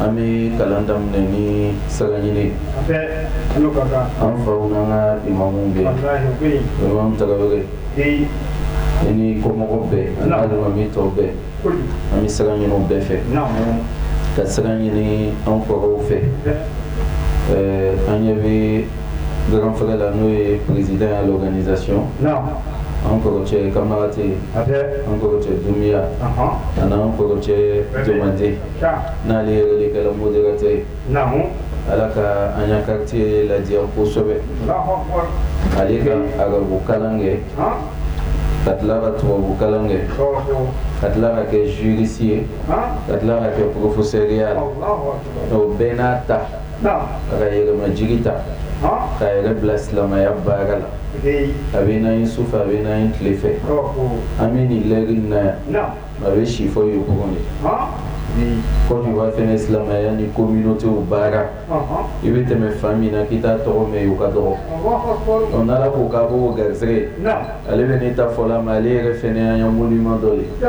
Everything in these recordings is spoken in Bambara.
an bɛ kalan daminɛ ni sira ɲini an fa imamu bɛ ani kɔmɔgɔw bɛɛ alimami tɔw bɛɛ an bɛ sira ɲini bɛɛ fɛ ka sira ɲini an kɔrɔw fɛ an ɲɛ bɛ Grand frère la n'o ye président à l'organisation an kɔrɔ cɛ kanbagate an kɔrɔ cɛ dunya ani an kɔrɔ cɛ jɔnte n'ale yɛrɛ kɛra modérateur ye ala ka an y'a kate lajɛya kosɛbɛ ale ka arabukalan kɛ ka tila ka tubabukalan kɛ ka tila ka kɛ juriste ye ka tila ka kɛ professeur ye la bɛɛ n'a ta a ka yɛrɛmajigi ta k'a yɛrɛ bila silamɛya baara la a bɛ na ye su fɛ a bɛ na ye tile fɛ an bɛ nin lɛri na yan a bɛ si fɔ Yopougon kɔn b'a fɛ silamɛya ni communauté baara i bɛ tɛmɛ fan min na k'i t'a tɔgɔ mɛn o ka dɔgɔ o nana ko ka bɔ garisɛgɛ ale bɛ ne ta fɔ la ma ale yɛrɛ fɛnɛ ye monument dɔ ye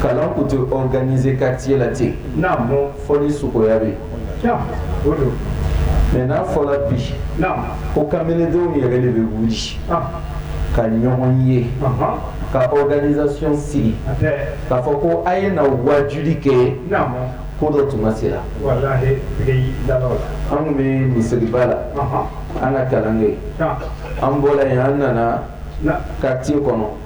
kalan tun tɛ organiser quartier la ten, naamu, ko fɔli suguya bɛ yen, naamu, o don, mais n'a fɔra bi, naamu, ko kamalendenw yɛrɛ de bɛ wuli, ɔnhɔn, ka ɲɔgɔn ye, ɔnhɔn, ka organisation sigi, a tɛ, k'a fɔ ko a ye na wajuli kɛ, naamu, ko dɔ tuma sera, walahi, tigi da la o la, an tun bɛ misiriba la, ɔnhɔn, an ka kalan kɛ, naamu, an bɔra yen an nana, naamu, quartier kɔnɔ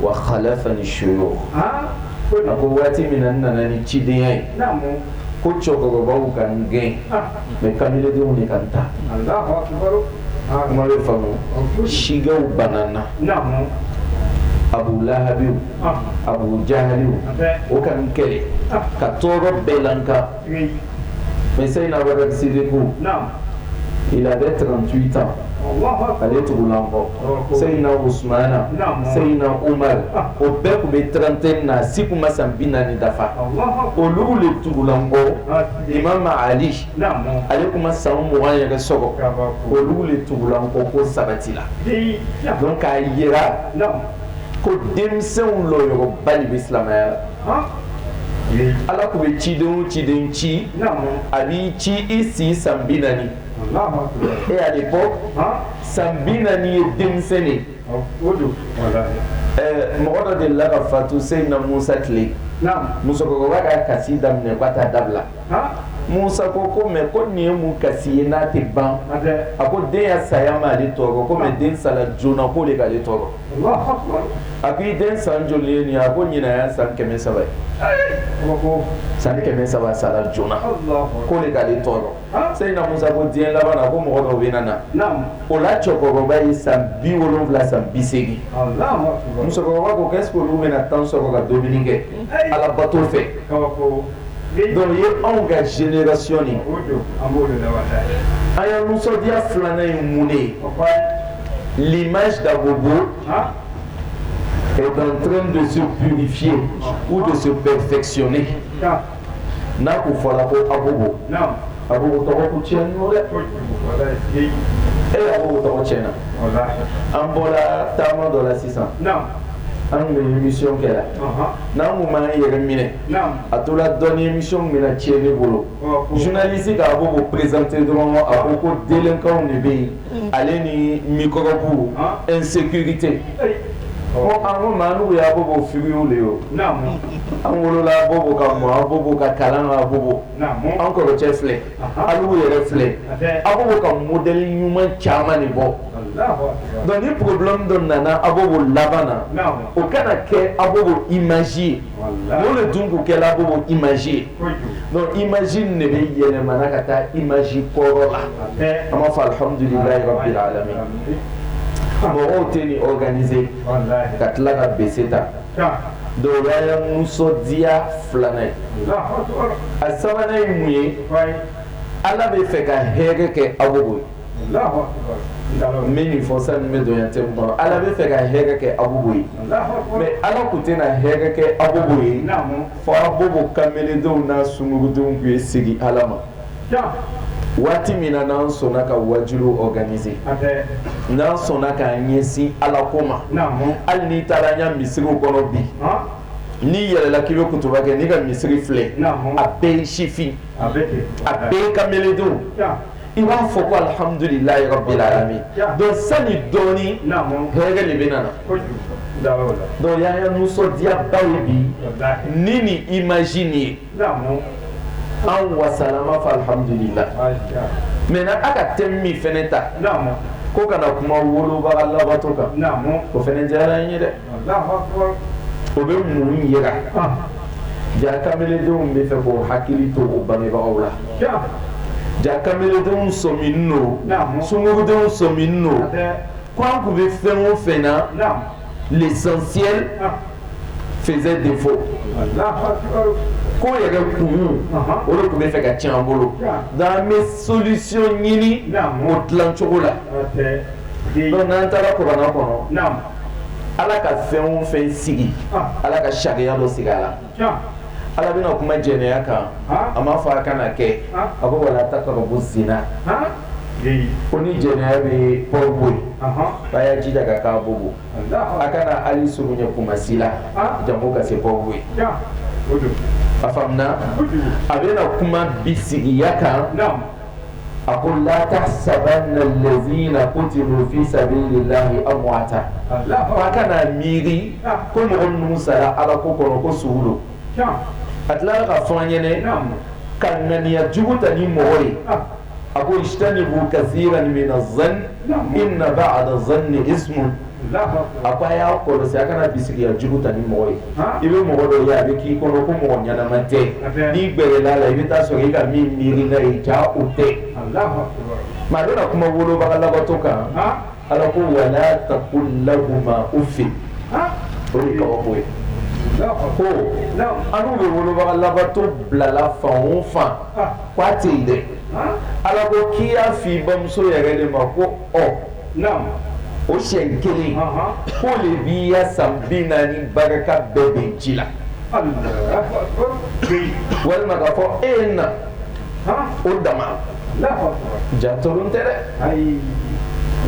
wa khalafani shuyukh a ko waati min na n nana ni cidenya ye ko cɛkɔrɔbaw ka n gɛn mais kamilendenw de ka n ta kuma bɛ faamu sigaw banna n na abu lahabiw abu jahaliw o ka n kɛlɛ ka tɔɔrɔ bɛɛ la n ka Oui. Mais Seyina Bakari Sidiku. Il avait 38 ans. Ale tugula n kɔ Seyina Usumana Seyina Umaru o bɛɛ tun bɛ trentaine na a si tun ma san bi naani dafa olu de tugula n kɔ Imamu Ali ale tun ma san mugan yɛrɛ sɔrɔ olu de tugula n kɔ ko sabatila donc k'a jira ko denmisɛnw lɔyɔrɔba de bɛ silamɛya la. Ala tun bɛ ciden o ciden ci a b'i ci i si san bi naani e à l'époque san bi naani ye denmisɛn ye mɔgɔ dɔ delila ka fatu seyina musa tile musokɔrɔba ka kasi daminɛ ko a t'a dabila musa ko ko mais ko nin ye mun kasi ye n'a tɛ ban a ko den saya ma ale tɔɔrɔ ko mais den sala joona k'o de k'ale tɔɔrɔ a ko i den san joli ye nin a ko nin ye san kɛmɛ saba ye san kɛmɛ saba sara joona ko de k'ale tɔɔrɔ seyidina musa ko diɲɛ laban a ko mɔgɔ dɔw bɛ na na o la cɛkɔrɔba ye san bi wolowula san bi seegin musokɔrɔba ko est-ce que olu bɛna na temps sɔrɔ ka dumuni kɛ ala bato fɛ dɔnku ye anw ka senerac ye a ye musoya filanan ye mun ye lima dabugu bon etrin bɛ se bi fiye u bɛ se bɛɛ fɛkisiyɔn n'a k'u fɔra ko a a tɔgɔ cɛ dɛ e a tɔgɔ cɛ na an bɔra taama dɔ la sisan an bɛ misiw kɛ n'an tun' yɛrɛ minɛ a tora dɔnni mi minɛ cɛ ne bolo zunlalisi k'a ko ko perezte dɔrɔn a ko ko denkaw de bɛ yen ale ni mikɔrɔbu n sete ɔ an ko maa n' y'a ko ko fi de ye an wolola bɔ ka mɔ bɔ ka kalan bɔ an kɔrɔ cɛ filɛ an yɛrɛ filɛ a bɛ ka mud ɲuman caman de bɔ dɔnkili pbidon nana a b'o laban na o kana kɛ a b'o i masi ye Walahi o de kɛra Abobo image ye, donc, image in de bɛ yɛlɛma ka taa image kɔrɔ la, an b'a fɔ alhamdulilayi rabili alamiina, mɔgɔw tɛ nin organiser ka tila ka bese ta, donc o ye nisɔndiya filanan ye, alahu akbar, a sabanan ye mun ye Ala bɛ fɛ ka hɛrɛ kɛ Abobo ye n bɛ nin fɔ sani n bɛ don n ya thème kɔnɔ Ala bɛ fɛ ka hɛrɛ kɛ Abobo ye mais Ala tun tɛna hɛrɛ kɛ Abobo ye fo Abobo kamalendenw n'a sungurundenw ka segin Ala ma waati min na n'an sɔnna ka waajuliw organiser n'an sɔnna k'an ɲɛsin Ala ko ma hali n'i taara an ka misiriw kɔnɔ bi n'i yɛlɛla k'i bɛ kutuba kɛ n'i ka misiri filɛ a bɛɛ ye sifin a bɛɛ ye kamalendenw i b'a fɔ ko alihamudulila rabili alamiina donc sani dɔɔni hɛrɛ de bɛ na donc o ye an ya nisɔndiyaba ye bi ni nin image nin ye an wasala an b'a fɔ alihamudulila maintenant aw ka thème min fana ta ko ka na kuma wolobaa labato kan o fana diyara n ye dɛ o bɛ mun jira ja kamalendenw bɛ fɛ ka hakili to u bangebagaw la ja kamalendenw sɔmin don sungurundenw sɔmin don k' an tun bɛ fɛn o fɛn na l'essentiel faisait défaut ko yɛrɛ kun o de tun bɛ fɛ ka ca an bolo nka an bɛ solution ɲini o dilancogo la n'an taara Coran kɔnɔ ala ka fɛn o fɛn sigi ala ka sariya dɔ sigi a la ala bɛna kuma jɛnɛya kan a ma fɔ a kana kɛ a ko wala takarabu zina ko ni jɛnɛya bɛ port-bouët a y'a jija ka kɛ abobo a kana hali surunya koumassi la jango ka se port-bouët a faamuya a bɛna kuma bisigiya kan a ko la tahsabanna lazina kutilu fi sabili lahi amwata a kana miiri ko mɔgɔ ninnu sara ala ko kɔnɔ ko su don a tila ka fɔ an kana ŋaniya jugu ta ni mɔgɔ ye a ko ijtanibu kasiran mina zanni inna baada zanni ismun a ko a y'a kɔlɔsi a kana bisigiya jugu ta ni mɔgɔ ye i bɛ mɔgɔ dɔ ye a bɛ k'i kɔnɔ ko mɔgɔ ɲɛnama tɛ n'i gɛrɛla a la i bɛ taa sɔrɔ i ka min miiri n'a ye jaa o tɛ maa bɛna kuma wolobaga labato kan ala ko wala takul lahuma ufi o ye kabako ye ko an bɛ wolobaga labato bilala fan o fan k'a tɛ yen dɛ ala ko k'i y'a fɔ i bamuso yɛrɛ de ma ko ɔ naamu, o siyɛn kelen, anhan, o de b'i ya san bi naani barika bɛɛ bɔn ji la, allahu akbar, walima k'a fɔ e ye n na, han, o dama, allahu akbar, ja tɔlen tɛ dɛ, ayi,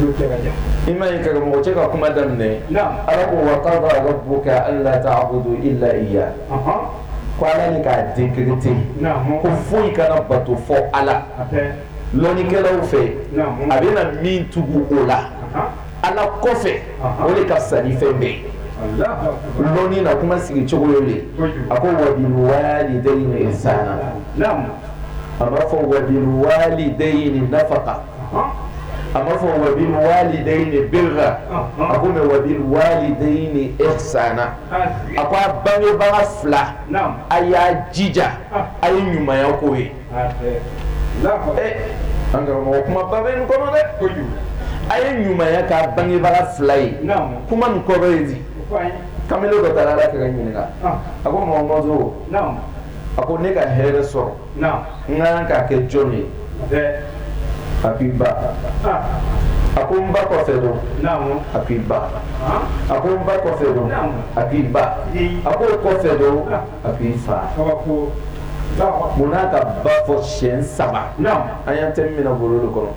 n'o tɛ ka ja, i ma ye karamɔgɔcɛ ka kuma daminɛ, naamu, Ala ko wa qada rabuka ala taabudu ila iya, anhan, ko Ala k'a decreter ko foyi kana bato fɔ Ala. lɔnnikɛlaw fɛ a bɛna min tugu o la ala kɔfɛ o de ka sa fɛn bɛ yen dɔn na kuma sigi cogo ye a ko wa bil walidayni ihsana a ma fɔ wa bil walidayni nafaka a ma fɔ wa bil walidayni birra a ko wa bil walidayni ihsana a ko a bangebaga fila a y'a jija a ye ɲumanya k'u ye an karamɔgɔ kuma ba bɛ nin kɔnɔ dɛ a ye ɲumanya k'a bangebaga fila ye kuma nin kɔrɔ ye di kamalen dɔ taara ala kira ɲininka a ko mɔgɔmɔgɔ a ko ne ka hɛrɛ sɔrɔ n ka kan k'a kɛ jɔn ye a k'i ba a ko n ba kɔfɛ don a k'i ba a ko n ba kɔfɛ don a k'i ba a ko kɔfɛ don a k'i fa kabako mun n'a ka ba fɔ siyɛn saba an y'an tɛ minɛ bolo de kɔnɔ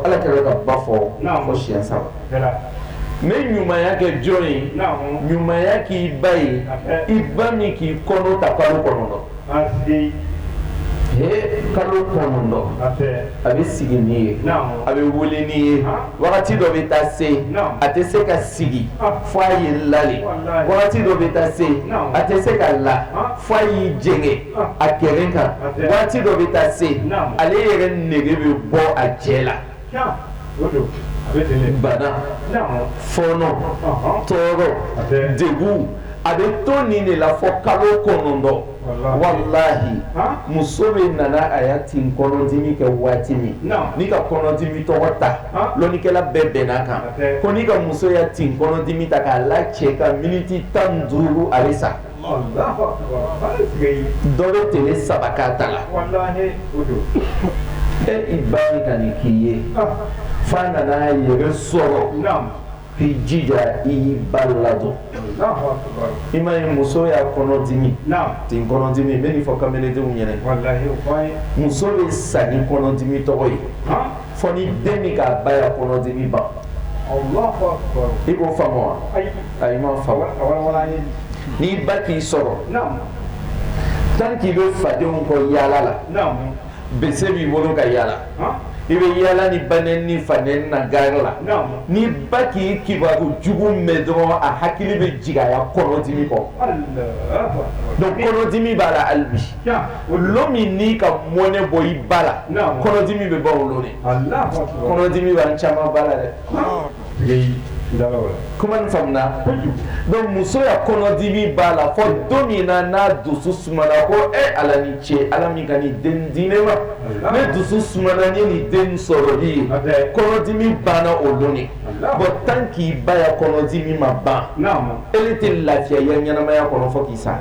ala kira ka ba fɔ fɔ siyɛn saba ne ɲumanya kɛ jɔn ye ɲumanya k'i ba ye i ba min k'i kɔnɔ ta kalo kɔnɔntɔn Ayi kalo kɔnɔntɔn a bɛ sigi n'i ye a bɛ wuli n'i ye wagati dɔ bɛ taa se a tɛ se ka sigi fo a ye la le wagati dɔ bɛ taa se a tɛ se ka la fo a y'i jɛngɛ a kɛrɛ kan wagati dɔ bɛ taa se ale yɛrɛ nege bɛ bɔ a cɛ la fɔɔnɔ tɔɔrɔ degun a bɛ to nin de la fɔ kalo kɔnɔntɔn walahi muso bɛna na a ya tin kɔnɔdimi kɛ waati min n'i ka kɔnɔdimi tɔgɔ ta lɔnnikɛla bɛɛ bɛnna a kan ko n'i ka muso ya tin kɔnɔdimi ta k'a la cɛ kan miniti tan duuru a bɛ sa tile saba ka ta a la e ba ka nin k'i ye fɔ a nana a yɛrɛ sɔrɔ k'i jija i y'i ba ladon i ma ye muso ya kɔnɔdimi nin kɔnɔdimi n bɛ fɔ kadenw ɲɛna muso bɛ sa ni kɔnɔdimi tɔgɔ ye fɔ ni den min k'a ba kɔnɔdimi ban i k'o fa ayi i ma faamu, a walawala an ye, n'i ba k'i sɔrɔ, naamu, tant que i bɛ fadenw kɔ yaala la, naamu, bese b'i bolo ka yaala, han, i bɛ yaala ni ba nɛni ni fa nɛni na gari la, naamu, n'i ba k'i kibaru jugu mɛn dɔrɔn a hakili bɛ jigin a ya kɔnɔdimi kɔ, Alahu akibaru, donc kɔnɔdimi b'a la hali bi, tiɲɛ, lon min n'i ka mɔnɛ bɔ i ba la, naamu, kɔnɔdimi bɛ ban o don de, Alahu akibaru, kɔnɔdimi b'an caman ba la dɛ, ɔnhɔn dɔnku muso ya kɔnɔdimi b'a la fɔ don min na n'a dusu sumana ko e ala ni ce ala min ka nin den di ne ma ne dusu sumana ni nin den sɔrɔ ye kɔnɔdimi banna o don de bɔn tan k'i ba ya kɔnɔdimi ma ban e tɛ lafiya ye ɲɛnamaya kɔnɔ fɔ k'i sa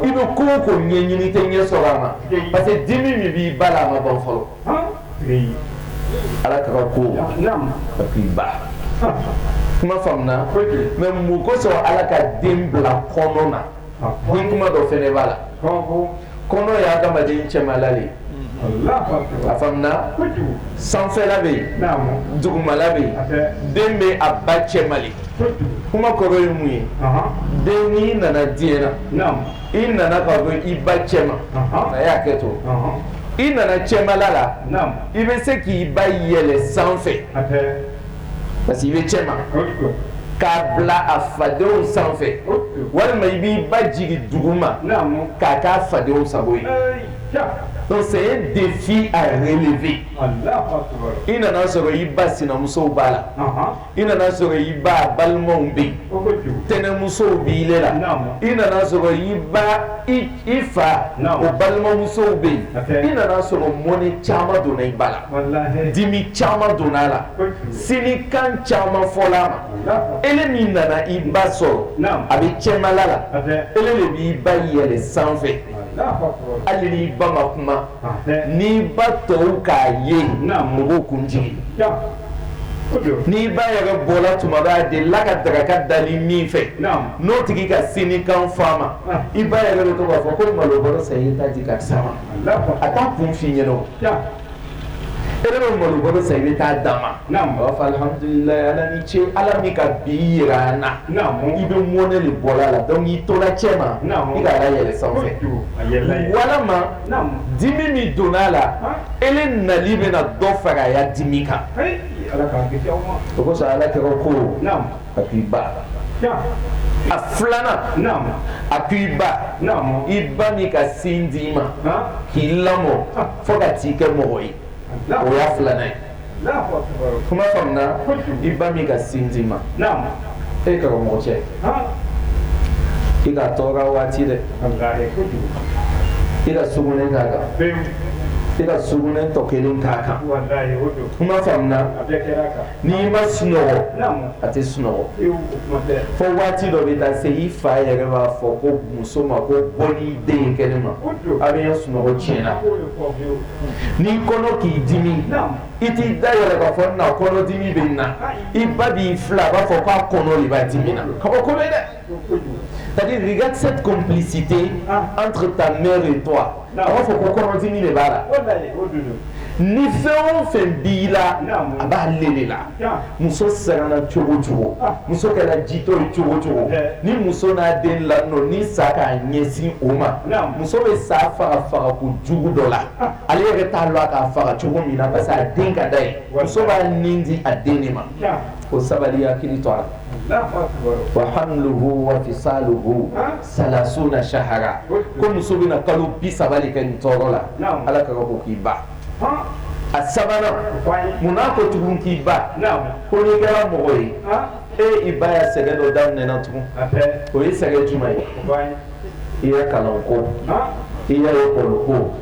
i bɛ ko o ko ɲɛ ɲini tɛ ɲɛ sɔrɔ a ma parce que dimi min b'i ba la a ma ban fɔlɔ ala k'a kɛ ko i bɛ kuma faamuna mɛ mun kosɔn ala ka den bila kɔnɔ na ni kuma dɔ fana b'a la kɔnɔ ye adamaden cɛmala de a faamuya sanfɛla bɛ yen dugumala bɛ yen den bɛ a ba cɛma de kuma kɔrɔ ye mun ye den nana diyɛn na i nana ka bɔ i ba cɛma a y'a kɛ to i nana cɛmala la i bɛ se k'i ba yɛlɛ sanfɛ parce que i bɛ cɛma k'a bila a fadenw sanfɛ walima i b'i ba jigin duguma k'a k'a fadenw sago ye donc c'est un défi à relever i nana sɔrɔ i ba sinamusow b'a la i nana sɔrɔ i ba balimaw bɛ yen tɛnɛnmusow b'ile la i nana sɔrɔ i ba i fa o balimamusow bɛ yen i nana sɔrɔ mɔnɛ caman donna i ba la dimi caman donna a la sinikan caman fɔla a ma e min nana i ba sɔrɔ a bɛ cɛba la e de b'i ba yɛlɛ sanfɛ hali n'i ba ma kuma n'i ba tɔw k'a ye mɔgɔw kun jigin n'i ba yɛrɛ bɔra tuma dɔ la ka daraka dali min fɛ n'o tigi ka sinikan f'a ma i ba yɛrɛ bɛ t'a fɔ ko malo bɔrɔ san i t'a di karisa ma a t'a kun f'i ɲɛna e bɛ malo bɔrɔ san i bɛ taa d'a ma alhamdulilahi ni ce ala min ka bi jira an na i bɛ mɔnɛ de bɔ la donc i tora cɛ ma i k'a yɛlɛ sanfɛ walima dimi min donna a la e le nali bɛna dɔ fara a ya dimi kan o kosɔn ala kira ko a k'i ba a filanan a ko i ba i ba min ka sin di i ma k'i lamɔ fo ka t'i kɛ mɔgɔ ye o y'a filanan ye kuma faamuya i ba min ka sin d'i ma e karamɔgɔcɛ i k'a tɔɔrɔ waati dɛ i ka sugunɛ k'a kan i ka sugunɛ tɔ kelen k'a kan kuma faamuya n'i ma sunɔgɔ a tɛ sunɔgɔ fo waati dɔ bɛ taa se i fa yɛrɛ b'a fɔ ko muso ma ko bɔ ni den ye kɛnɛ ma a bɛ n ya sunɔgɔ tiɲɛna n'i kɔnɔ k'i dimi i t'i da yɛlɛ k'a fɔ nna kɔnɔdimi bɛ n na i ba b'i filɛ a b'a fɔ k'a kɔnɔ le b'a dimina k'a b'a kɔnɔ dɛ c'est-à-dire regarde cette complicité entre ta mère et toi a b'a fɔ ko kɔnɔdimi de b'a la ni fɛn o fɛn b'i la a b'ale de la Muso siranna cogo o cogo muso kɛra jitɔ ye cogo o cogo ni muso n'a den lanin ni sa k'a ɲɛsin o ma muso bɛ sa faga fagako jugu dɔ la ale yɛrɛ t'a lɔn a k'a faga cogo min na parce a den ka d'a ye muso b'a nin di a den de ma ko sabali k'i to ala wa hamluhu wa fisaluhu salasuna sahara ko muso bɛna kalo bisaba le kɛ nin tɔɔrɔ la ala kira ko k'i ba a sabanan munna ko tugun k'i ba ko n'i kɛra mɔgɔ ye e i ba ya sɛgɛn dɔ daminɛna tugun o ye sɛgɛn jumɛn ye i ya kalanko i ya lekɔliko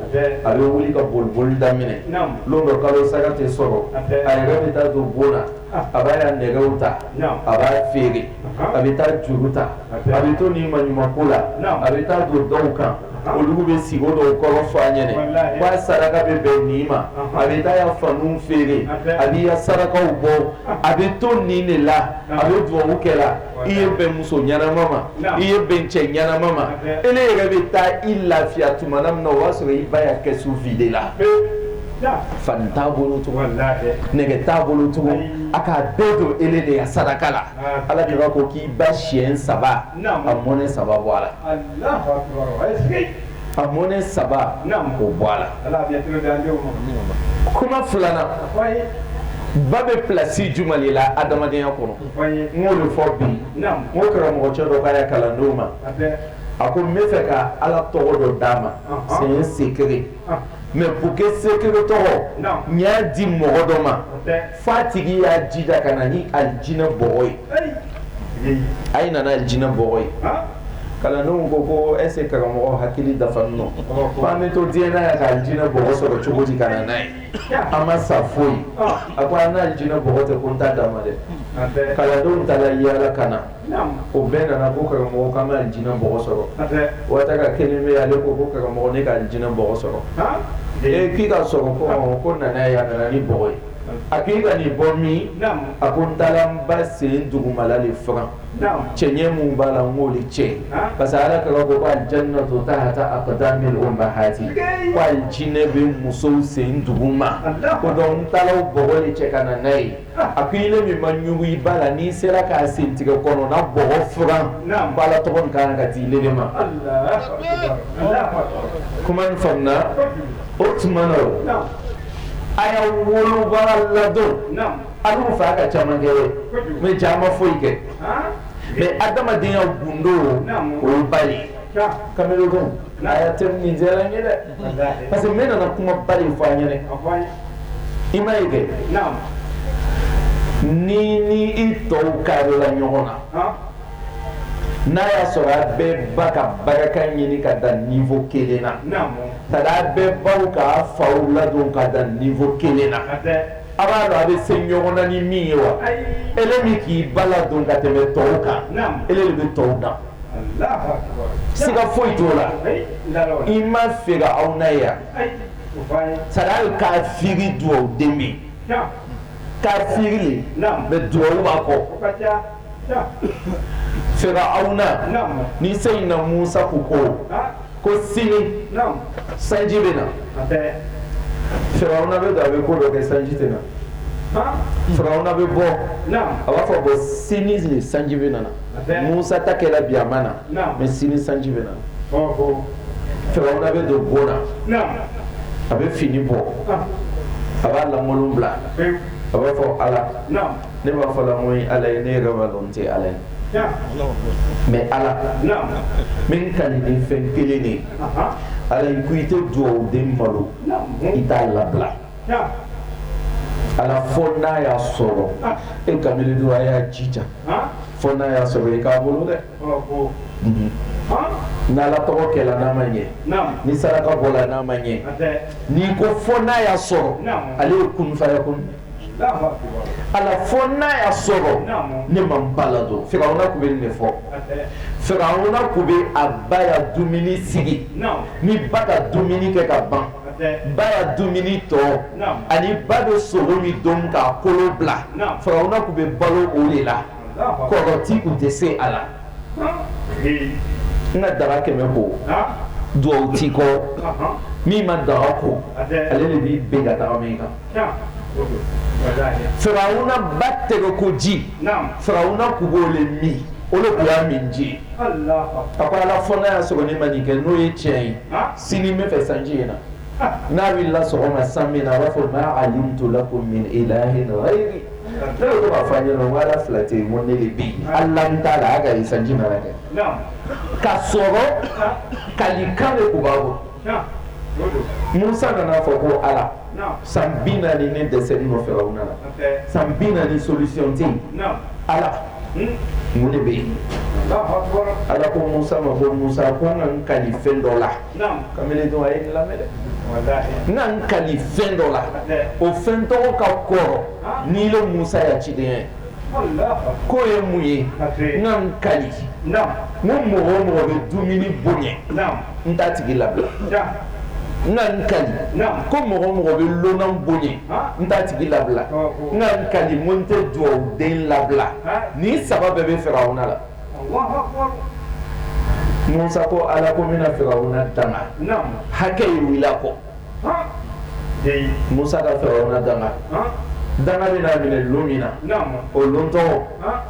a bɛ wuli ka bolioli daminɛ don dɔ kalo sara tɛ sɔrɔ a yɛrɛ bɛ taa don bon na a b'a ya nɛgɛw ta a b'a feere a bɛ taa juru ta a bɛ to nin maɲumanko la a bɛ taa don dɔw kan olu bɛ sigi dɔw kɔrɔ fɔ a ɲɛna ba saraka bɛ bɛn nin ma a bɛ taa a ya fani feere a b'i ya sarakaw bɔ a bɛ to nin de la a bɛ dugawu kɛ la i ye bɛn muso ɲɛnama ma i ye bɛn cɛ ɲɛnama ma e de yɛrɛ bɛ taa i lafiya tuma min na o y'a sɔrɔ i ba ya kɛsu videla fani t'a bolo tugun nɛgɛ t'a bolo tugun a k'a bɛɛ don e de ya saraka la Ala de b'a ko k'i ba siyɛn saba a mɔnɛ saba bɔ a la a mɔnɛ saba ko bɔ a la kuma filanan ba bɛ plasi jumɛn de la adamadenya kɔnɔ n'o de fɔ bi nɔ karamɔgɔcɛ dɔ k'a ya kalandenw ma a ko n bɛ fɛ ka ala tɔgɔ dɔ d'a ma c'est un secret mais pour que secret tɔgɔ n y'a di mɔgɔ dɔ ma fɔ a tigi y'a jija ka na ni alijinɛ bɔgɔ ye a ye na n'alijinɛ bɔgɔ ye kalandenw ko ko est-ce que karamɔgɔ hakili dafa nɔ an bɛ to diɲɛ na yan k'alijinɛ bɔgɔ sɔrɔ cogo di ka na n'a ye an ma sa fɔlɔ a ko aw n'alijinɛ bɔgɔ tɛ ko n t'a d'a ma dɛ kalandenw taala i yaala ka na o bɛɛ nana ko karamɔgɔ k'an ma alijinɛ bɔgɔ sɔrɔ a tora kelen pe ale ko ko karamɔgɔ ne k'alijinɛ bɔgɔ sɔrɔ ee k'i k'a sɔrɔ ko ko na n'a ye a nana ni bɔgɔ ye a k'i ka nin bɔ min a ko n taala n ba sen dugumala de furan cɛɲɛ min b'a la n'o de cɛ parce que ala kira ko k'aljannatu tahta aqdamil ummahati ko alijinɛ bɛ musow sen duguma ko donc n taala bɔgɔ de cɛ ka na n'a ye A ko e de min ma ɲugun i ba la n'i sera k'a sen tigɛ kɔnɔna bɔgɔ furan ko ala tɔgɔ n ka kan k'a di e de ma kuma in faamuna o tuma na a y'a woloba ladon a fa ka caman kɛ ye ca ma foyi kɛ mais adamadenya gundo o ba ye kamalen A ya tɛmɛsira ye dɛ parce que ne nana kuma ba in fɔ a ɲɛna i m'a ye kɛ n'i n'i tɔw ka la ɲɔgɔn na n'a y'a sɔrɔ a bɛɛ ba ka barika ɲini ka da niveau kelen na ka da a bɛɛ baw k'a faw ladon ka da niveau kelen na a b'a dɔn a bɛ se ɲɔgɔn na ni min ye wa e de min k'i ba ladon ka tɛmɛ tɔw kan e de bɛ tɔw dan siga foyi t'o la i ma Firawuna ya sariya ye kafiri dugawu den bɛ yen kafiri mais dugawu b'a kɔ Firawuna ni seyina Musa ko ko ko sini sanji bɛ na farauna bɛ don a bɛ ko dɔ kɛ sanji tɛ na farauna bɛ bɔ a b'a fɔ ko sini de sanji bɛna na musa ta kɛra bi a ma na mɛ sini sanji bɛna na farauna bɛ don bon na a bɛ fini bɔ a b'a lankolon bila a b'a fɔ ala ne b'a fɔ la ko ala ye ne yɛrɛ b'a dɔn n tɛ ala ye mɛ ala min kali ni fɛn kelen de ala i ko i tɛ dugawu den malo i t'a labila ala fo n'a y'a sɔrɔ e ka don a y'a jija fo n'a y'a sɔrɔ i k'a bolo dɛ mhm. n'a ala tɔgɔ kɛlɛ n'a ma ɲɛ ni saraka bɔ n'a ma ɲɛ n'i ko fo n'a y'a sɔrɔ ale ye kun fayakun ala fo n' y'a sɔrɔ ne ma ba ladon farauna tun bɛ nin de fɔ farauna tun bɛ a ba la dumuni sigi ni ba ka dumuni kɛ ka ban ba la dumuni tɔ ani ba bɛ sogo min dun k'a kolo bila farauna tun bɛ balo o de la kɔrɔti tun tɛ se a la nka danga kɛmɛ ko dugawu tɛ kɔ min ma danga ko ale de b'i bɛn ka taama i kan Farauna ba tɛgɛ ko ji farauna tun b'o de min o de tun y'a min ji a ko ala fo n'a y'a sɔrɔ ne ma nin kɛ n'o ye cɛ ye sini bɛ fɛ sanji in na n'a bɛ la sɔgɔma sanji bɛ na a b'a fɔ ma alimtu lakum min ilahin gayri ne b'a fɔ ɲɛna ala fila tɛ yen mɔn ne de bi ala t'a la a ka sanji mara kɛ ka sɔrɔ kalikan de tun b'a kɔ musa ka na a fɔ ko ala san bi naani ne dɛsɛnen farauna la san bi naani solution tɛ ala mun de bɛ yen ala ko musa ma ko musa ko n ka n kali fɛn dɔ la ka dɔn a ye lamɛn dɛ n ka n kali fɛn dɔ la o fɛn tɔgɔ ka kɔrɔ ni ile musa ya ciden ye K'o ye mun ye n ka n kali ko mɔgɔ o mɔgɔ bɛ dumuni bonya n t'a tigi labila n ka n kali ko mɔgɔ o mɔgɔ bɛ lonan bonya n t'a tigi labila n ka n kali ko n tɛ dugawu den labila nin saba bɛɛ bɛ farauna la musa ko ala ko n bɛna farauna danga hakɛ ye wuli a kɔ Musa ka farauna danga danga bɛna a minɛ don min na o dontɔ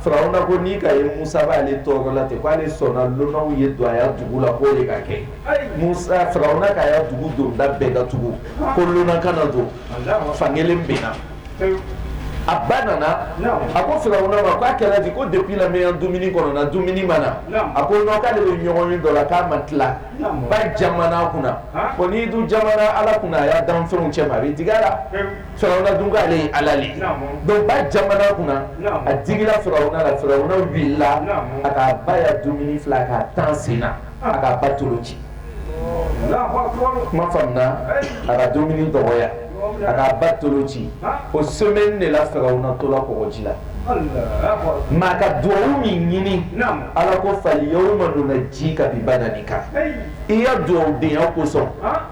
farauna ko ni ka ye musa b'ale tɔɔrɔla ten k'ale sɔnna lonanw ye don a dugu la k'o de ka kɛ sa farauna ka dugu donda bɛɛ datugu ko lonan kana don fankelen bɛ na a ba nana a ko farauna ma k'a kɛra di ko depuis ale bɛ dumuni kɔnɔna dumuni ma na a ko k'ale bɛ ɲɔgɔnye dɔ la k'a ma tila ba jamanna a kunna ko n'i dun jamanna ala kunna a y'a danfɛnw cɛma a bɛ digi ala la firawuna dun k'ale ye ala de don ba jamanna a kunna a digila firawuna la firawuna wulila a k'a ba ya dumuni fili k'a tan sen na a k'a ba tolo ci kuma faamuya a ka dumuni dɔgɔya a ba tolo ci o so de la firawuna tola kɔgɔji la maa ka dugawu min ɲini ala ko firawuna ma don ji ka bi bada kan i ya dugawu denya kosɔn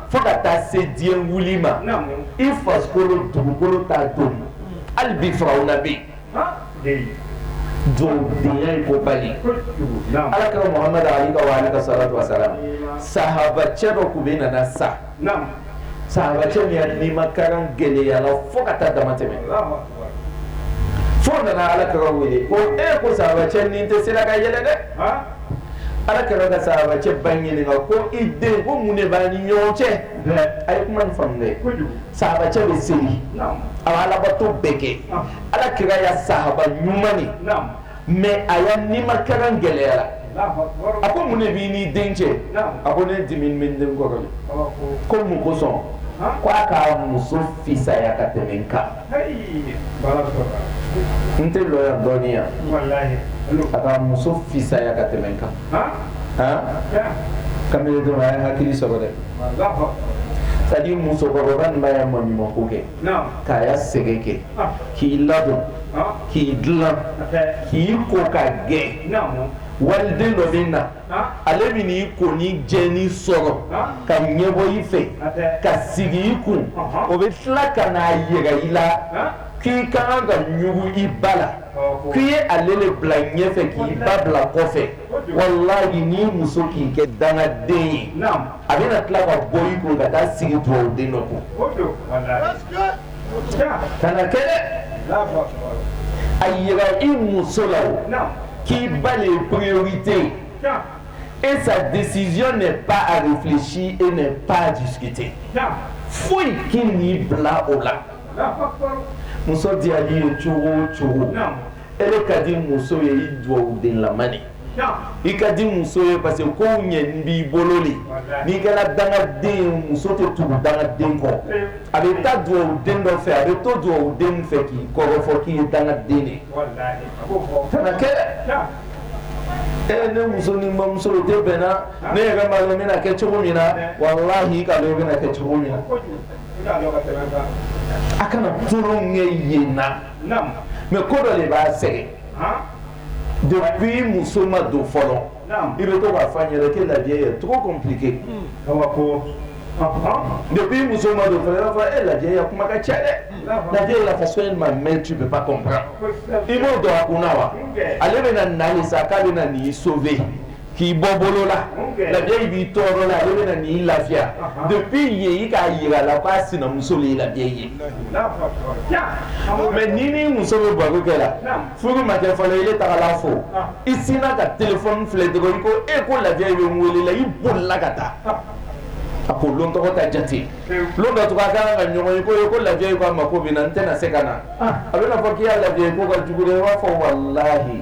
fo ka taa se diɲɛ wuli ma i farikolo dugukolo t'a dun hali bi firawuna bɛ yen dugawu denya ye koba le ala kira muhamadu alayika walaka salatu wasalamu sahabacɛ dɔ tun bɛ nana sa sahabacɛ nin nimakaran gɛlɛyala fo ka taa dama tɛmɛ fo nana ala kira wele ko e ko sahabacɛ ni tɛ sera ka yɛlɛ dɛ ala kira ka sahabacɛ ba ɲininka ko i den ko mun de b'a ni ɲɔgɔn cɛ a ye kuma faamu dɛ sahabacɛ bɛ seli a alabato bɛɛ kɛ ala kira ya sahaba ɲuman mais a ya nimakaran gɛlɛyala a ko mun de b'i ni den cɛ a ko ne dimi bɛ n den kɔrɔ ko mun kosɔn k'a ka muso fisaya ka tɛmɛ n kan n tɛ lɔ yan dɔɔnin a ka muso fisaya ka tɛmɛ n kan kamalenw a ye hakili sɔrɔ dɛ c'est-à-dire musokɔrɔba in b'a ye maɲumanko kɛ k'a ye sɛgɛn kɛ k'i ladon k'i dilan k'i ko ka gɛn waliden dɔ bɛ na ale bɛ i konin jɛnin sɔrɔ ka ɲɛbɔ i fɛ ka sigi i kun o bɛ tila ka n'a yira i la k'i ka kan ka ɲugun i ba la k'i ye ale de bila ɲɛfɛ k'i ba bila kɔfɛ walahi ni muso k'i kɛ dangaden ye naam a bɛna tila ka bɔ i kun ka taa sigi duwawuden dɔ kun o don walahi gasikee ja kana kɛ dɛ Alahu akibaru a yira i muso la o naam k'i ba le ye priorité ye ja et sa décision n'est pas à réfléchir et n'est pas à discuter ja foyi kan'i bila o la Alahu akibaru muso diyal'i ye cogo o cogo naam e yɛrɛ ka di muso ye i dugawu denlama de i ka di muso ye parce que ko ɲɛ b'i bolo de n'i kɛra dangaden muso tɛ tugu dangaden kɔ a bɛ taa dugawu den dɔ fɛ a bɛ to dugawu den fɛ k'i kɔrɔfɔ k'i ye dangaden de ye kana kɛ e ne muso ni n bamuso tɛ bɛnna ne yɛrɛ ma dɔn n bɛna kɛ cogo min na walahi i k'a dɔn i bɛna kɛ cogo min na a kana tulon ɲɛ yen na mɛ ko dɔ de b'a sɛgɛn dɔnkili muso ma don fɔlɔ i bɛ to fa yɛrɛ kɛ lajɛ ye tɔgɔ kun ko muso ma don fɔlɔ e lajɛ ye kuma ka cɛ dɛ lajɛ la so in ma mɛ tu bɛ ba i b'o don a kun wa ale bɛ na na sa k'a bɛ na nin so fɛ yen k'i bɔ bolo la la vieille b'i tɔɔrɔ la ale bɛna n'i lafiya depuis yen i k'a jira a la k'a sinamuso de ye la vieille ye mais ni n'i muso bɛ baro kɛ la furu ma kɛ fɔlɔ ile tagala fo i sinna ka téléphone filɛ dɔrɔn i ko e ko la vieille bɛ n wele la i bolila ka taa a ko lon tɔgɔ ta jate lon dɔ tugun a kan ka ɲɔgɔn ye i ko e ko la vieille ko a mako bɛ n na n tɛna se ka na a bɛna fɔ k'i ya la vieille ko ka jugu dɛ i b'a fɔ walahi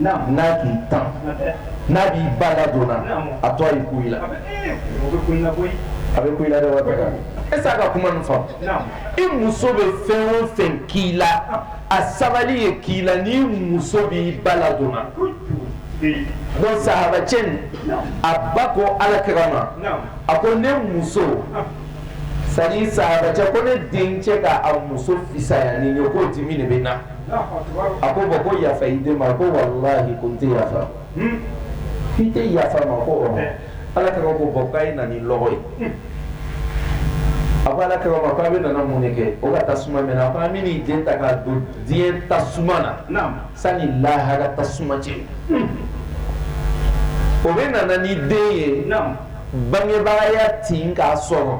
n'a k'i tan n'a b'i ba ladon na a to a ye kun i la a bɛ kun i la est-ce qu'a ka kuma nin faamu i muso bɛ fɛn o fɛn k'i la a sabali ye k'i la n'i muso b'i ba ladon na bon sahabacɛ a ba ko ala kira ma a ko ne muso sa sahabacɛ ko ne dencɛ k'a muso fisaya ne ye k'o dimi de bɛ n na A ko ma ko yafa i den ma ko walahi ko n tɛ yafa i tɛ yafa a ma ko ala kira ko bon k'a ye na ni lɔgɔ ye a ba ko ala kira ma ko a bɛ nana mun kɛ o ka tasuma mɛnɛ an bɛna i den ta ka don diɲɛ tasuma na sani lahara tasuma cɛ o bɛ na na n'i den ye bangebaaya tin k'a sɔrɔ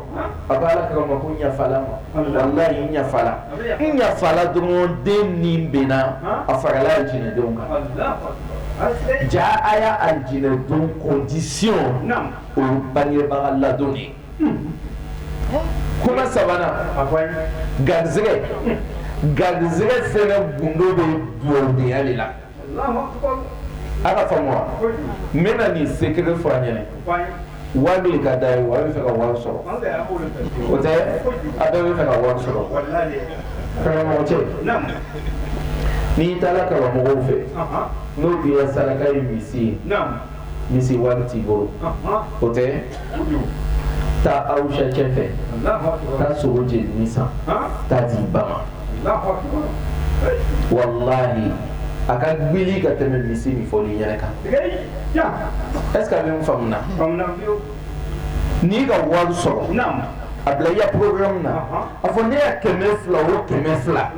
a ko ala kira ma ko n yafala a ma walahi n yafala n yafala dɔrɔn den nin banna a farala alijinɛdenw kan jaa a ya alijinɛ don condition o ye bangebaga ladon ye kuma sabanan garisɛgɛ garisɛgɛ fɛnɛ gundo bɛ duwawudenya de la A ka faamu n bɛna nin secret fɔ an ɲɛna waati ka da ye wari fɛ ka wari sɔrɔ o tɛ a bɛ fɛ ka wari sɔrɔ karamɔgɔ cɛ n'i taara karamɔgɔ fɛ n'o k'i ya saraka ye misi ye misi wari t'i bolo o tɛ taa awusacɛ fɛ taa sogo jeninen san taa a di i ba ma walahi a ka gbili ka tɛmɛ misi min fɔlen i ɲɛ na kan est-ce qu'a bɛ n faamu na n'i ka wari sɔrɔ a bila i ya problème na a fɔ ne ya kɛmɛ fila o kɛmɛ fila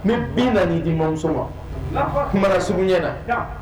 n bɛna nin di mamuso ma kuma sugu ɲɛ na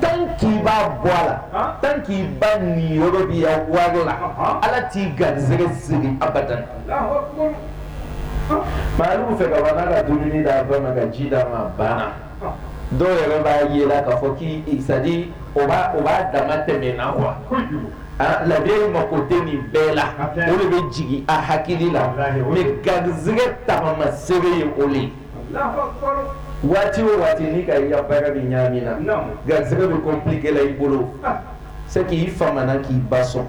tan k'i b'a bɔ a la tan k'i ba niyɔrɔ b'i ya wari la ala t'i garijɛgɛ siri abadan maa fɛ ka ka dumuni d'a ba ma ka ji d'a ma banna dɔw yɛrɛ b'a jira k'a fɔ ko c'est-à-dire o o b'a dama tɛmɛ na wa aa labɛn in mako bɛ min bɛɛ la o de bɛ jigin a hakili la garijɛgɛ tagamasere ye o waati o waati n'i k'a ye i ka baara bɛ ɲagami i la garisigɛ bɛ compliquer la i bolo c'est que i famana k'i ba sɔn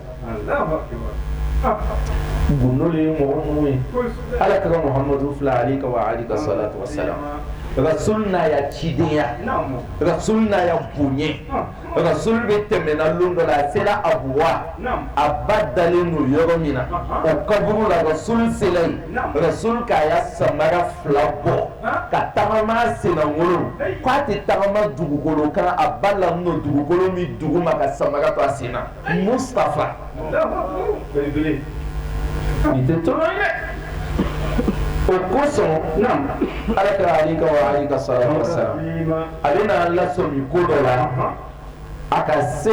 gundo de ye mɔgɔ ninnu ye Ala kira Mahamadu filɛ aleyika wa aleyika salatu wa salam Rasul n'a ya cidenya Rasul n'a ya bonya Rasul bɛ tɛmɛna don dɔ la, a sera Abuwa, naamu, a ba dalen don yɔrɔ min na, anhan, o kaburu la Rasul sera yen, naamu, Rasul k'a ya samara fila bɔ, han, ka taama n'a sennakolon, heyi, k'a tɛ taama dugukolo kan, a ba lanin don dugukolo min duguma ka samara to a sen na, heyi, Mustapha, Alahu akibaru, belebele, nin tɛ tulon ye dɛ, o kosɔn, naamu, alakira aleyika wa aleyika salatou wa salam a bɛ na lasɔmi ko dɔ la a ka se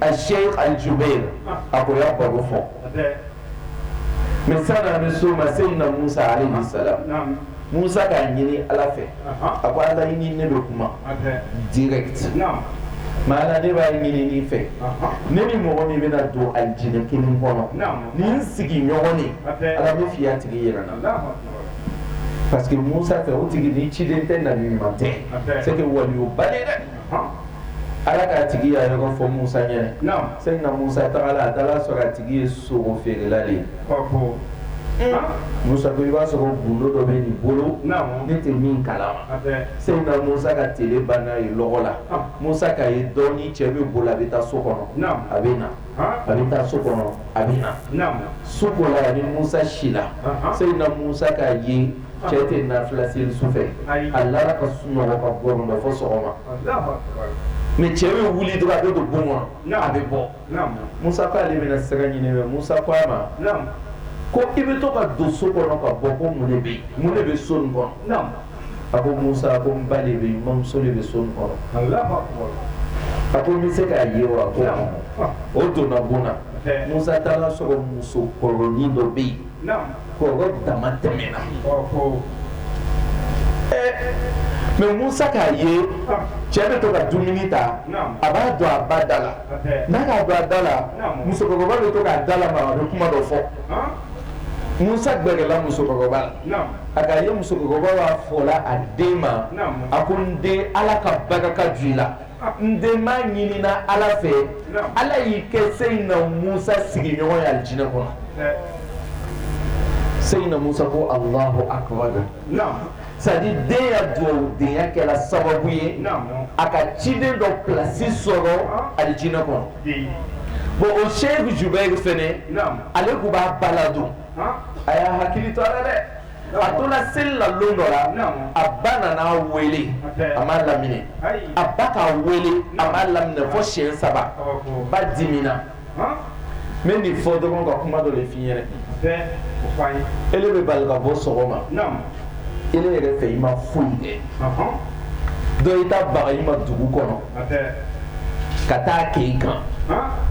aseki alijubɛri a ko y'a baro fɔ misa na bɛ so ma seyidina musa aleyihi salam musa k'a ɲini ala fɛ a ko ala i ni ne bɛ kuma directement ala ne b'a ɲini i fɛ ne ni mɔgɔ min bɛna don alijinɛ kelen kɔnɔ ni n sigiɲɔgɔn ala n b'a fɛ i y'a tigi yira n na Parce que musa fɛ o tigi ni ciden tɛ nabiɲuman tɛ c'est que waliyuba de ala k'a tigi ya yɔrɔ fɔ musa ɲɛ seyidina musa tagala a taara sɔrɔ a tigi ye sogofeerela ye musa ko i b'a sɔrɔ gundo dɔ bɛ nin bolo ne tɛ min kalama seyidina musa ka tile ban n'a ye lɔgɔ la musa k'a ye dɔɔnin cɛ bɛ boli a bɛ taa so kɔnɔ a bɛ na A bɛ taa so kɔnɔ a bɛ na su kola a ni musa sila seyidina musa k'a ye cɛ tɛ nafila seli su fɛ a lara ka sunɔgɔ ka gɔrɔndɔ fɔ sɔgɔma mais cɛ bɛ wuli dɔrɔn a bɛ don bon kɔnɔ a bɛ bɔ musa ko ale bɛna sira ɲini min musa ko a ma ko i bɛ to ka don so kɔnɔ ka bɔ ko mun de bɛ mun de bɛ so kɔnɔ a ko musa ko n ba de bɛ yen n bamuso de bɛ so kɔnɔ a ko n bɛ se k'a ye wa ko o donna bon na musa taara sɔrɔ musokɔrɔnin dɔ bɛ yen kɔrɔ damatɛmɛna mais musa k'a ye cɛ bɛ to ka dumuni ta a b'a don a ba da la n'a k'a don a da la musokɔrɔba bɛ to k'a da lamaga a bɛ kuma dɔ fɔ musa gɛrɛla musokɔrɔba la a ka ye musokɔrɔba b'a fɔ la a den ma a ko n den ala ka barika ka ji la ne b'a ɲinina ala fɛ ala y'i kɛ seyidina musa sigiɲɔgɔn ye alijinɛ kɔnɔ seyidina musa ko allahu akbar sadi den ya dugadenya kɛra sababu ye a ka ciden dɔ plasi sɔrɔ alijinɛ kɔnɔ bon o seku jubɛri fana ale tun b'a ba ladon a y'a hakili to a la dɛ a donna seli la don dɔ la a ba nana a weele a ma laminɛ a ba k'a weele a ma laminɛ fɔ siɲɛ saba ba dimina n bɛ nin fɔ dɔrɔn ka kuma dɔ de f'i ɲɛna e bɛ bali ka bɔ sɔgɔma e yɛrɛ fɛ i ma foyi kɛ dɔ i taa baga i ma dugu kɔnɔ ka taa k'i kan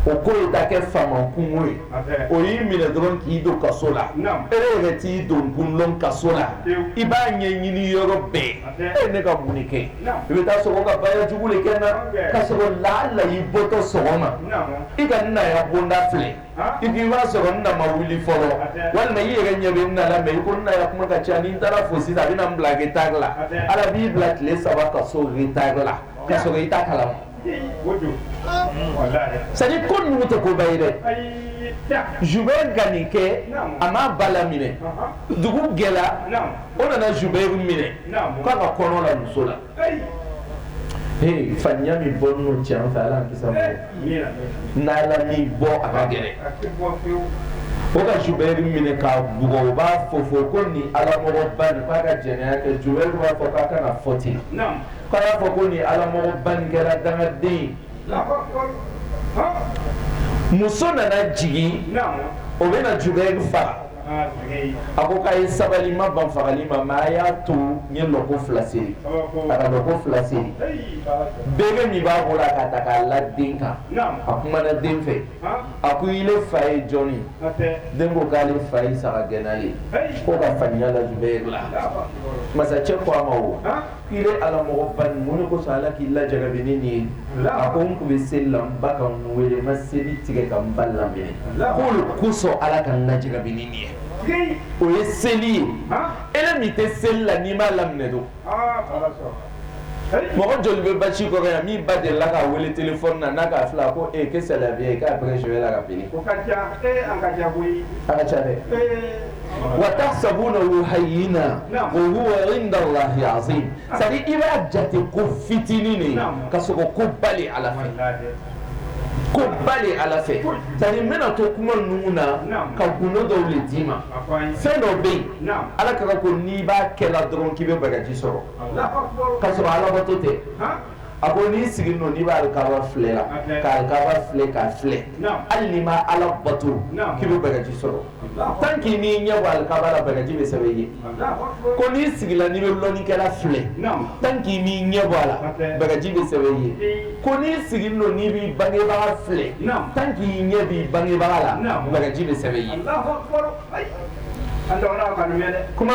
o ko ka kɛ faama kunko ye o y'i minɛ dɔrɔn k'i don kaso la e yɛrɛ t'i donkun dɔn kaso la i b'a ɲɛɲini yɔrɔ bɛɛ e ne ka mun kɛ i bɛ taa sɔrɔ i ka baara jugu kɛ n'a ka sɔrɔ laala i bɔtɔ sɔgɔma i ka n na ya bonda filɛ i k'i b'a sɔrɔ n na ma wuli fɔlɔ walima i yɛrɛ ɲɛ bɛ n na la mɛ i ko n na ya kuma ka ca ni n taara a fo sisan a bɛna n bila retari la ala b'i bila tile saba kaso retari la ka sɔrɔ i t'a kalama sadi ko ninnu tɛ koba ye dɛ jubɛri ka nin kɛ a m'a ba laminɛ dugu gɛla o nana jubɛri minɛ k'a ka kɔnɔ la muso la Fa min bɔ n cɛ fɛ ala n' bɔ a ka gɛlɛn o ka jubɛri minɛ k'a bugɔ o b'a fɔ fɔ ko ni alamɔgɔba nin bɛ ka jɛnɛya kɛ jubɛri b'a fɔ k'a kana fɔ ten k'a y'a fɔ ko ni alamɔgɔba nin kɛra dangaden muso nana jigin o bɛna jubɛri faa A ko a ye sabali n ma ban fagali ma mɛ a y'a to n ye lɔko fila seli a ka lɔko fila seli bere min b'a bolo a k'a ta k'a la den kan a kumana den fɛ a ko ile fa ye jɔn ye den ko k'ale fa ye saga gɛnna ye k'o ka faniya la jubɛri la masakɛ ko a ma Ile alamɔgɔba mun kosɔn ala k'i lajarabi nin ye a ko n tun bɛ seli la n ba ka n wele n ma seli tigɛ ka n ba laminɛ o le kosɔn ala ka n lajarabi nin ye o ye seli ye e min tɛ seli la n'i m'a laminɛ dun mɔgɔ joli bɛ basi kɔrɔ yan min ba dela k'a wele telefɔni na n'a k'a filɛ a ko e k'alaya k'a bɛ la ka wa tahsabunahu hayyina wa huwa inda Allahi azim c'est à dire i b'a jate ko fitinin de ye ka sɔrɔ ko ba de Ala fɛ ko ba de Ala fɛ c'est à dire n bɛna to kuma ninnu na ka gundo dɔw de d'i ma fɛn dɔ bɛ yen Ala ka kira ko n'i b'a kɛla dɔrɔn k'i bɛ baraji sɔrɔ ka sɔrɔ Alabato tɛ. a ko n'i sigi don n'i b'Alkaba filɛ k'a filɛ k'a filɛ hali n'i ma ala bato k'i bɛ baraji sɔrɔ tant qu'i m'i ɲɛ bɔ Alkaba la baraji bɛ sɛbɛn i ye ko n'i sigila n'i bɛ lɔnnikɛla filɛ tant qu'i m'i ɲɛ bɔ a la baraji bɛ sɛbɛn i ye ko n'i sigi don n'i bɛ bangebaga filɛ tant qu'i ɲɛ b'i bangebaga la baraji bɛ sɛbɛn i ye kuma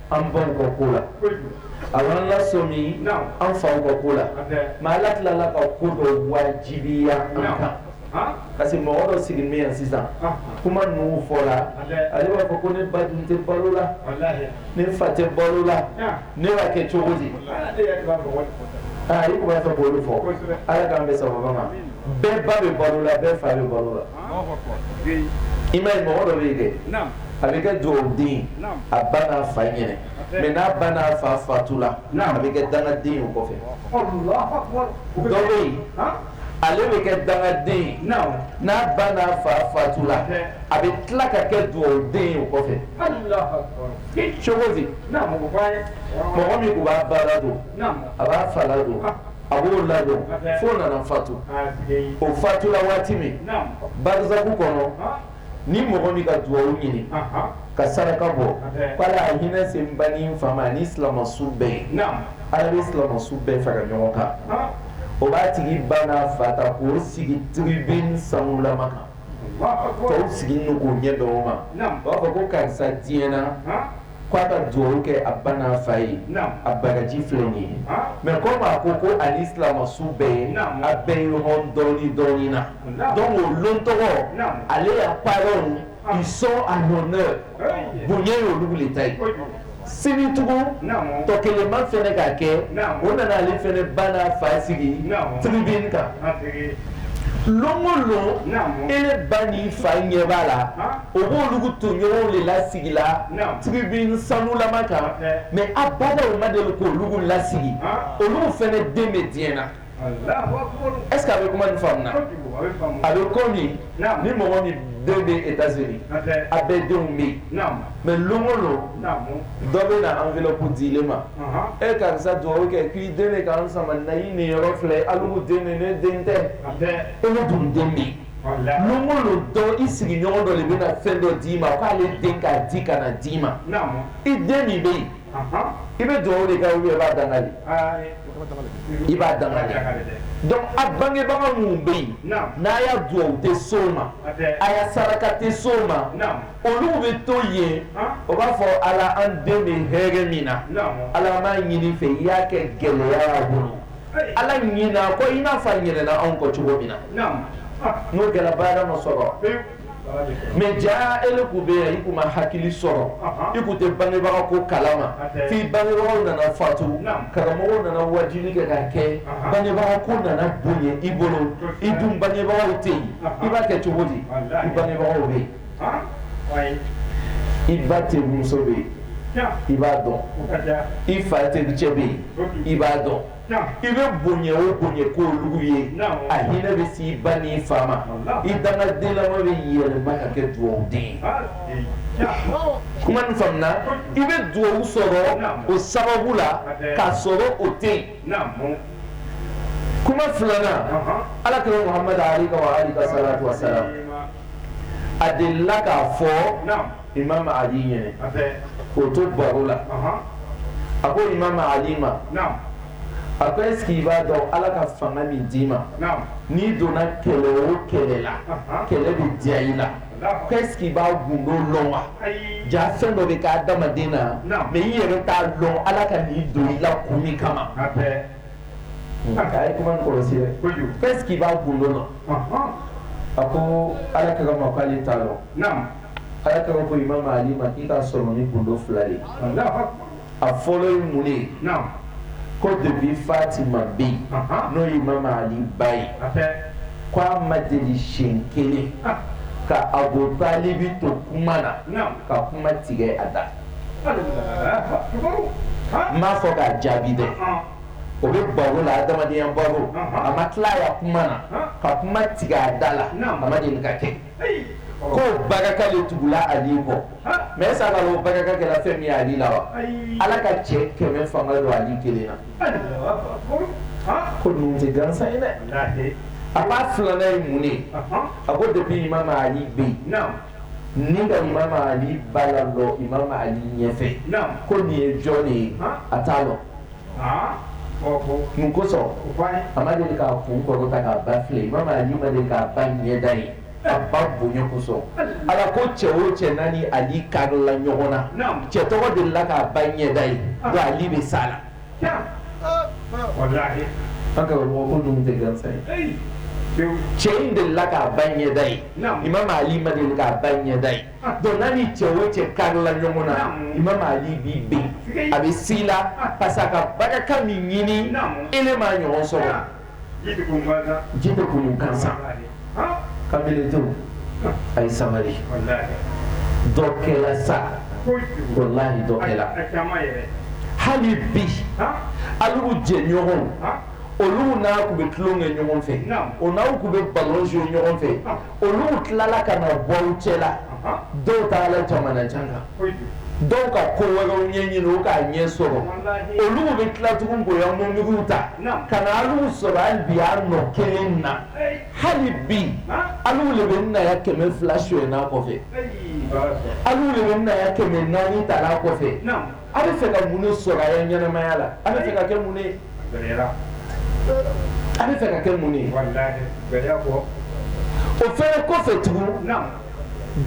an baw ka ko la a y'an lasɔmi an fa ka ko la mais ala tilala ka ko dɔ wajibiya an kan parce que mɔgɔ dɔ siginin bɛ yan sisan kuma ninnu fɔla ale b'a fɔ ko ne ba dun tɛ balo la ne fa tɛ balo la ne b'a kɛ cogo di aa i tun b'a fɛ k'olu fɔ ala k'an bɛn sababu ma bɛɛ ba bɛ balo la bɛɛ fa bɛ balo la i m'a ye mɔgɔ dɔ bɛ yen dɛ a bɛ kɛ dugawu den ye a ba n'a fa ɲɛna mais n'a ba n'a fa faatula a bɛ kɛ dangaden ye o kɔfɛ dɔ bɛ yen ale bɛ kɛ dangaden ye n'a ba n'a fa faatula a bɛ tila ka kɛ dugawu den ye o kɔfɛ cogo di mɔgɔ min tun b'a ba ladon a b'a fa ladon a b'o ladon fo o nana fatu o fatula waati min barisaku kɔnɔ ni mɔgɔ min ka dugaw ɲini ka saraka bɔ k' ala ka hinɛ se ba ni fa ma ni silamɛsu bɛɛ ye ala bɛ silamɛsu bɛɛ fara ɲɔgɔn kan o b'a tigi ba n'a fa ta k'o sigi tribune sanulama kan sigi ɲɛ dɔgɔw ma b'a fɔ ko karisa diɲɛ na k' a ka dugawu kɛ a ba n'a fa ye a baraji filɛ nin ye mais comme a ko ko ani silamɛsu bɛɛ ye a bɛ ɲɔgɔn dɔɔnin dɔɔnin na donc o don tɔgɔ ale y'a ba u sɔn a honneur bonya ye olu de ta ye sini tugun tɔ kelenba fana k'a kɛ o nana ale fana ba n'a fa sigi tribune kan don o don e ba ni fa ɲɛ b'a la O b'olu tɔɲɔgɔnw de lasigila tribune sanulama kan mais a ba ma de k' olu lasigi olu fana den bɛ diɲɛ na est-ce qu'a bɛ kuma nin faamu na a bɛ komi ni mɔgɔ min den bɛ États-Unis a bɛɛ denw bɛ yen mais don o don dɔ bɛ na enveloppe di i ma e karisa dugawu kɛ k'i den ka sama na i niyɔrɔ filɛ ye alu den den tɛ e dun den bɛ dɔ i sigiɲɔgɔn dɔ de bɛna fɛn dɔ d'i ma k'ale den k'a di ka na d'i ma i den min bɛ yen i bɛ dugawu de kɛ i b'a danga i b'a danga donc a bangebaga minnu bɛ yen n'a ya dugawu tɛ s'o ma a ya saraka tɛ s'o ma olu bɛ to yen o b'a fɔ ala an denw bɛ hɛrɛ min na ala n b'a ɲini i fɛ i y'a kɛ gɛlɛya bolo Ala ɲina a kɔ i n'a fɔ a ɲinɛna anw kɔ cogo min na n'o kɛra baara ma sɔrɔ mais jaa e tun bɛ yen i tun ma hakili sɔrɔ i tun tɛ bangebaga ko kala ma f'i bangebagaw nana fatu karamɔgɔw nana waajibi kɛ ka kɛ bangebaga ko nana bonya i bolo i dun bangebagaw tɛ yen i b'a kɛ cogo di i bangebagaw bɛ yen i ba terimuso bɛ yen i b'a dɔn i fa tericɛ bɛ yen i b'a dɔn i bɛ bonya o bonya kɛ olugu ye a hinɛ bɛ se i ba n'i fa ma i dangaden lama bɛ yɛlɛma ka kɛ dugawuden kuma i bɛ dugawu sɔrɔ o sababu la k'a sɔrɔ o tɛ yen kuma filanan ala tun a delila k'a fɔ i ma ɲɛ o to baro la a ko i ma ma a ko e b'a dɔn ala ka fanga min d'i ma n'i donna kɛlɛ o kɛlɛ la kɛlɛ bɛ diya i la k'i b'a gundo dɔn wa jaa fɛn dɔ bɛ kɛ adamaden na mais i yɛrɛ t'a dɔn ala ka nin don i la kun min kama ko est ce que i b'a gundo dɔn a ko ala kira ma k'ale t'a dɔn ala kira ko imam ali ma k'i k'a sɔrɔ ni gundo fila ye a fɔlɔ ye mun ye ko depuis fatima bɛ yen n'o ye imam ali ba ye k'a ma deli siyɛn kelen ka abu talibi to kuma na ka kuma tigɛ a da n m'a fɔ k'a jaabi dɛ o bɛ baro la adamadenya baro a ma tila a ya kuma na ka kuma tigɛ a da la a ma deli k'a kɛ k'o barika de tugula ali kɔ mais est ce que a b'a dɔn k'o barika kɛra fɛn min ye ali la wa ala ka cɛ kɛmɛ fanga don ali kelen na ko ninnu tɛ gansan ye dɛ a ko a filanan ye mun de ye a ko depuis imam ali bɛ yen n'i ka imam ali ba lalɔ imam ali ɲɛfɛ ko nin ye jɔn de ye a t'a lɔn mun kosɔn a ma deli k'a kun kɔrɔta k'a ba filɛ imamu ali ma deli k'a ba ɲɛda ye a ba bonya kosɔn ala ko cɛ o cɛ n'a ni ali karila ɲɔgɔn na cɛ tɔgɔ delila k'a ba ɲɛda ye ali bɛ se a la an ka mɔgɔ tɛ gansa ye cɛ in delila k'a ba ɲɛda ye imamu ali ma deli k'a ba ɲɛda ye Donc n'a ni cɛ o cɛ karila ɲɔgɔn na imamu ali b'i bin a bɛ se i la parce a ka barika min ɲini e le ma a ɲɔgɔn sɔrɔ ji bɛ kun gansan ka a ye sabali dɔ kɛla sa walahi dɔ kɛla hali bi alu jɛɲɔgɔn olu n'a tun bɛ tulon kɛ ɲɔgɔn fɛ o n'a tun bɛ balon kɛ ɲɔgɔn fɛ olu tilala ka na bɔ cɛ la dɔw taala jamana jan kan dɔw ka ko wɛrɛw ɲɛɲini u k'a ɲɛ sɔrɔ olu bɛ tila tugun k'o ya mundugu ta ka na alu sɔrɔ hali bi a nɔ kelen na hali bi alu le bɛ nna ya kɛmɛ fila son kɔfɛ alu le bɛ nna ya kɛmɛ naani ta kɔfɛ A bɛ fɛ ka mun de sɔrɔ a ya ɲɛnamaya la? A bɛ fɛ ka kɛ mun de ye? Gɛlɛya. A bɛ fɛ ka kɛ mun de ye? Walahi gɛlɛya kɔ. O fana kɔfɛ tugun. Naamu.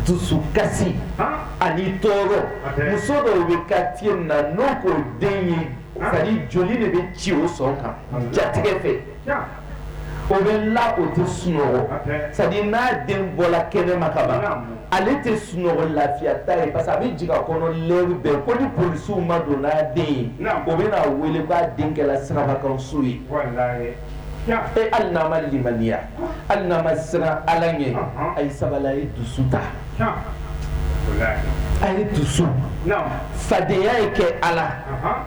Dusukasi. Han! Ani tɔɔrɔ. Hatɛ. Muso dɔw bɛ quartier min na n'o k'o den ye. Han! C'est à dire joli de bɛ ci o sɔn kan. Walahi. Jatigɛ fɛ. o bɛ la o tɛ sunɔgɔ sabu n'a den bɔra kɛnɛ ma kaban ale tɛ sunɔgɔ lafiya t'a ye parce a bɛ jigi a kɔnɔ lɛri bɛɛ ko ni polisiw ma don n'a den ye o bɛna a weele k'a den kɛla sirabakansu ye e hali n'a ma limaniya hali n'a ma siran ala ɲɛ a ye sabali a ye dusu ta a ye dusu fadenya ye kɛ ala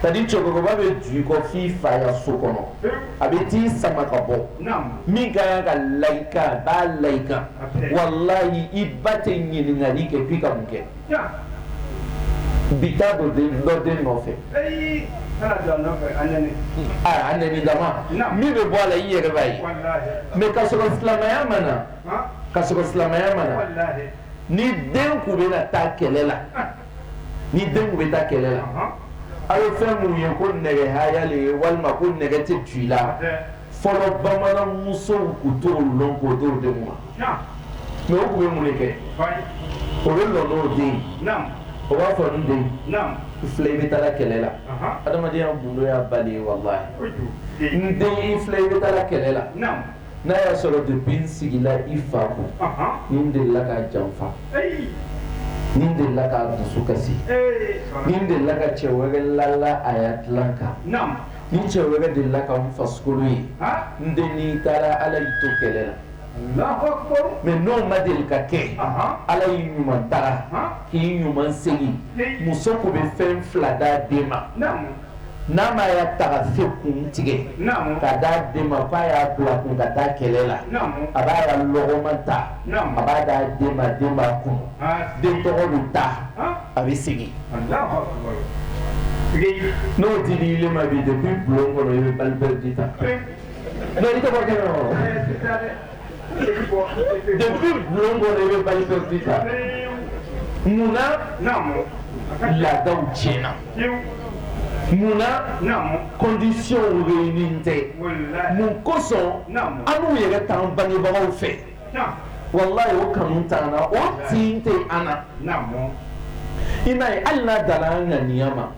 c'est à dire cɛkɔrɔba bɛ tugu i kɔ f'i fa ya so kɔnɔ, a bɛ t'i sama ka bɔ, naamu, min ka kan ka la i kan a b'a la i kan walahi i ba tɛ ɲininkali kɛ k'i ka mun kɛ, ja, bi taa don dɔ den nɔfɛ, ayi, kana don a nɔfɛ a nɛni, a nɛni dama, naamu, min bɛ bɔ a la i yɛrɛ b'a ye, walahi, mais k'a sɔrɔ silamɛya ma na, han, k'a sɔrɔ silamɛya ma na, walahi, ni den tun bɛna taa kɛlɛ la ni denw bɛ taa kɛlɛ la a ye fɛn minnu ye ko nɛgɛhaya le ye walima ko nɛgɛ tɛ don i la fɔlɔ bamanan musow tun t'o dɔn ko denw denw ma mɛ o tun bɛ mun de kɛ o bɛ lɔ n'o den o b'a fɔ n den i filɛ i bɛ taa kɛlɛ la adamadenya gundo y'i ba le ye walahi n den i filɛ i bɛ taa kɛlɛ la n'a y'a sɔrɔ depuis n sigila i fa kun, ɔnhɔn, n delila k'a janfa, ayi, n delila k'a dusu kasi, ee, n delila ka cɛ wɛrɛ lala a ya dilan kan, naamu, ni cɛ wɛrɛ delila ka n farikolo ye, haa, n den n'i taara Ala y'i to kɛlɛ la, Alahu akibaru, mais n'o ma deli ka kɛ, ɔnhɔn, Ala y'i ɲuman tara, ɔnhɔn, k'i ɲuman segin, muso tun bɛ fɛn 2 d'a den ma, naamu n'a m'a ya tagafe kun tigɛ ka d'a den ma k'a y'a bila a kun ka taa kɛlɛ la a b'a ya lɔgɔma ta a b'a d'a den ma den b'a kunu den tɔgɔ bɛ taa a bɛ segin n'o tɛ di ile ma bi depuis bulon kɔnɔ i bɛ balle perdue ta mais i tɔgɔ kɛnɛ wa depuis bulon kɔnɔ i bɛ balle perdue ta mun na laadaw tiɲɛna mun na conditions réunies tɛ mun kosɔn annu yɛrɛ t'an bangebagaw fɛ walayi o kanu t'an na o tin tɛ an na. I m'a ye hali n'a danna an ŋaniya ma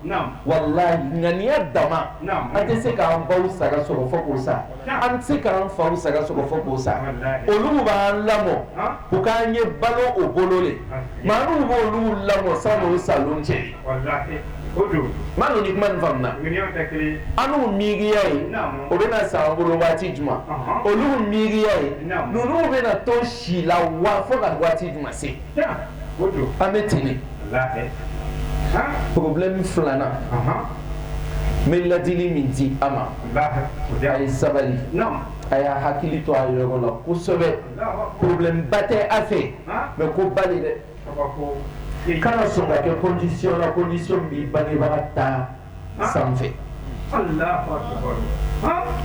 walayi ŋaniya dama an tɛ se k'an baw saga sɔrɔ fo k'u sa An tɛ se k'an faw saga sɔrɔ fo k'u sa olu b'an lamɔ u k'an ye balo o bolo ye maa minnu b' olu lamɔ sa sa cɛ ma ni kuma faamuya an miiriya ye u bɛna sa an bolo waati jumɛn olu miiriya ye ninnu bɛna to si la waa fo ka waati jumɛn se an bɛ ten problème filanan n bɛ ladili min di a ma a ye sabali a y'a hakili to a yɔrɔ la kosɛbɛ problème ba tɛ a fɛ mais koba le dɛ kana sɔn ka kɛ condition na condition min bɛ bangebaga ta san fɛ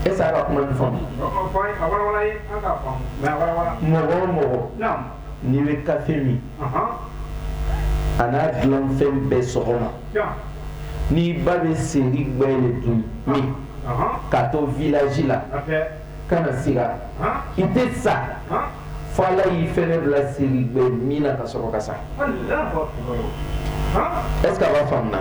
est-ce a bɛ kuma nin faamu mɔgɔ mɔgɔ n'i bɛ kafe min a n'a dilanfɛn bɛɛ sɔgɔma n'i ba bɛ seri gbɛ le dun min k'a to village la kana siga i tɛ sa fo Ala y'i fɛnɛ bila seri gbɛ min na ka sɔrɔ ka sa est-ce a b'a faamu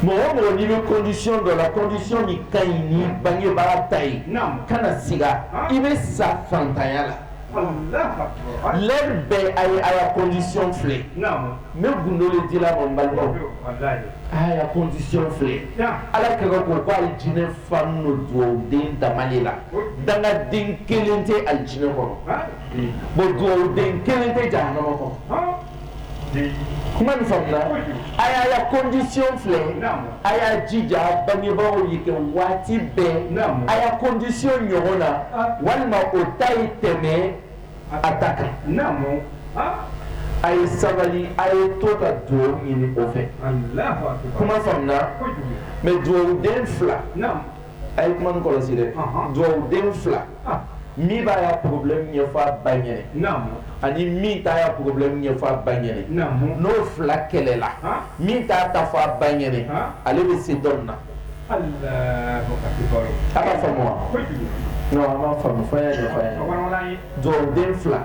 mɔgɔ mɔgɔ n'i bɛ condition dɔ la condition nin ka ɲi n'i bangebaa ta ye kana siga i bɛ sa fantanya la bɛɛ a ye a ya condition filɛ ne gundo ji balima condition filɛ ala kɛmɛ ko' ye jinɛ filɛ fa dugawu den da la dangaden kelen tɛ alijinɛ kɔnɔ bon dugawu den kelen tɛ jahanama kɔnɔ kuma nin faamuya a y'a ya condition filɛ a y'a jija bangebagaw ye kɛ waati bɛɛ a ya condition ɲɔgɔn na walima o ta ye tɛmɛ a ka taa kɛ n'a mɔ a ye sabali a ye to ka dugawu ɲini o fɛ kuma faamuya mais dugawuden fila a ye kuma kɔlɔsi dɛ dugawuden fila min b'a ya problème ɲɛfɔ a ba ɲɛ na ani min t'a ya problème ɲɛfɔ a ba ɲɛ na n'o fila kɛlɛla min t'a ta fɔ a ba ɲɛ na ale bɛ se dɔ in na den fila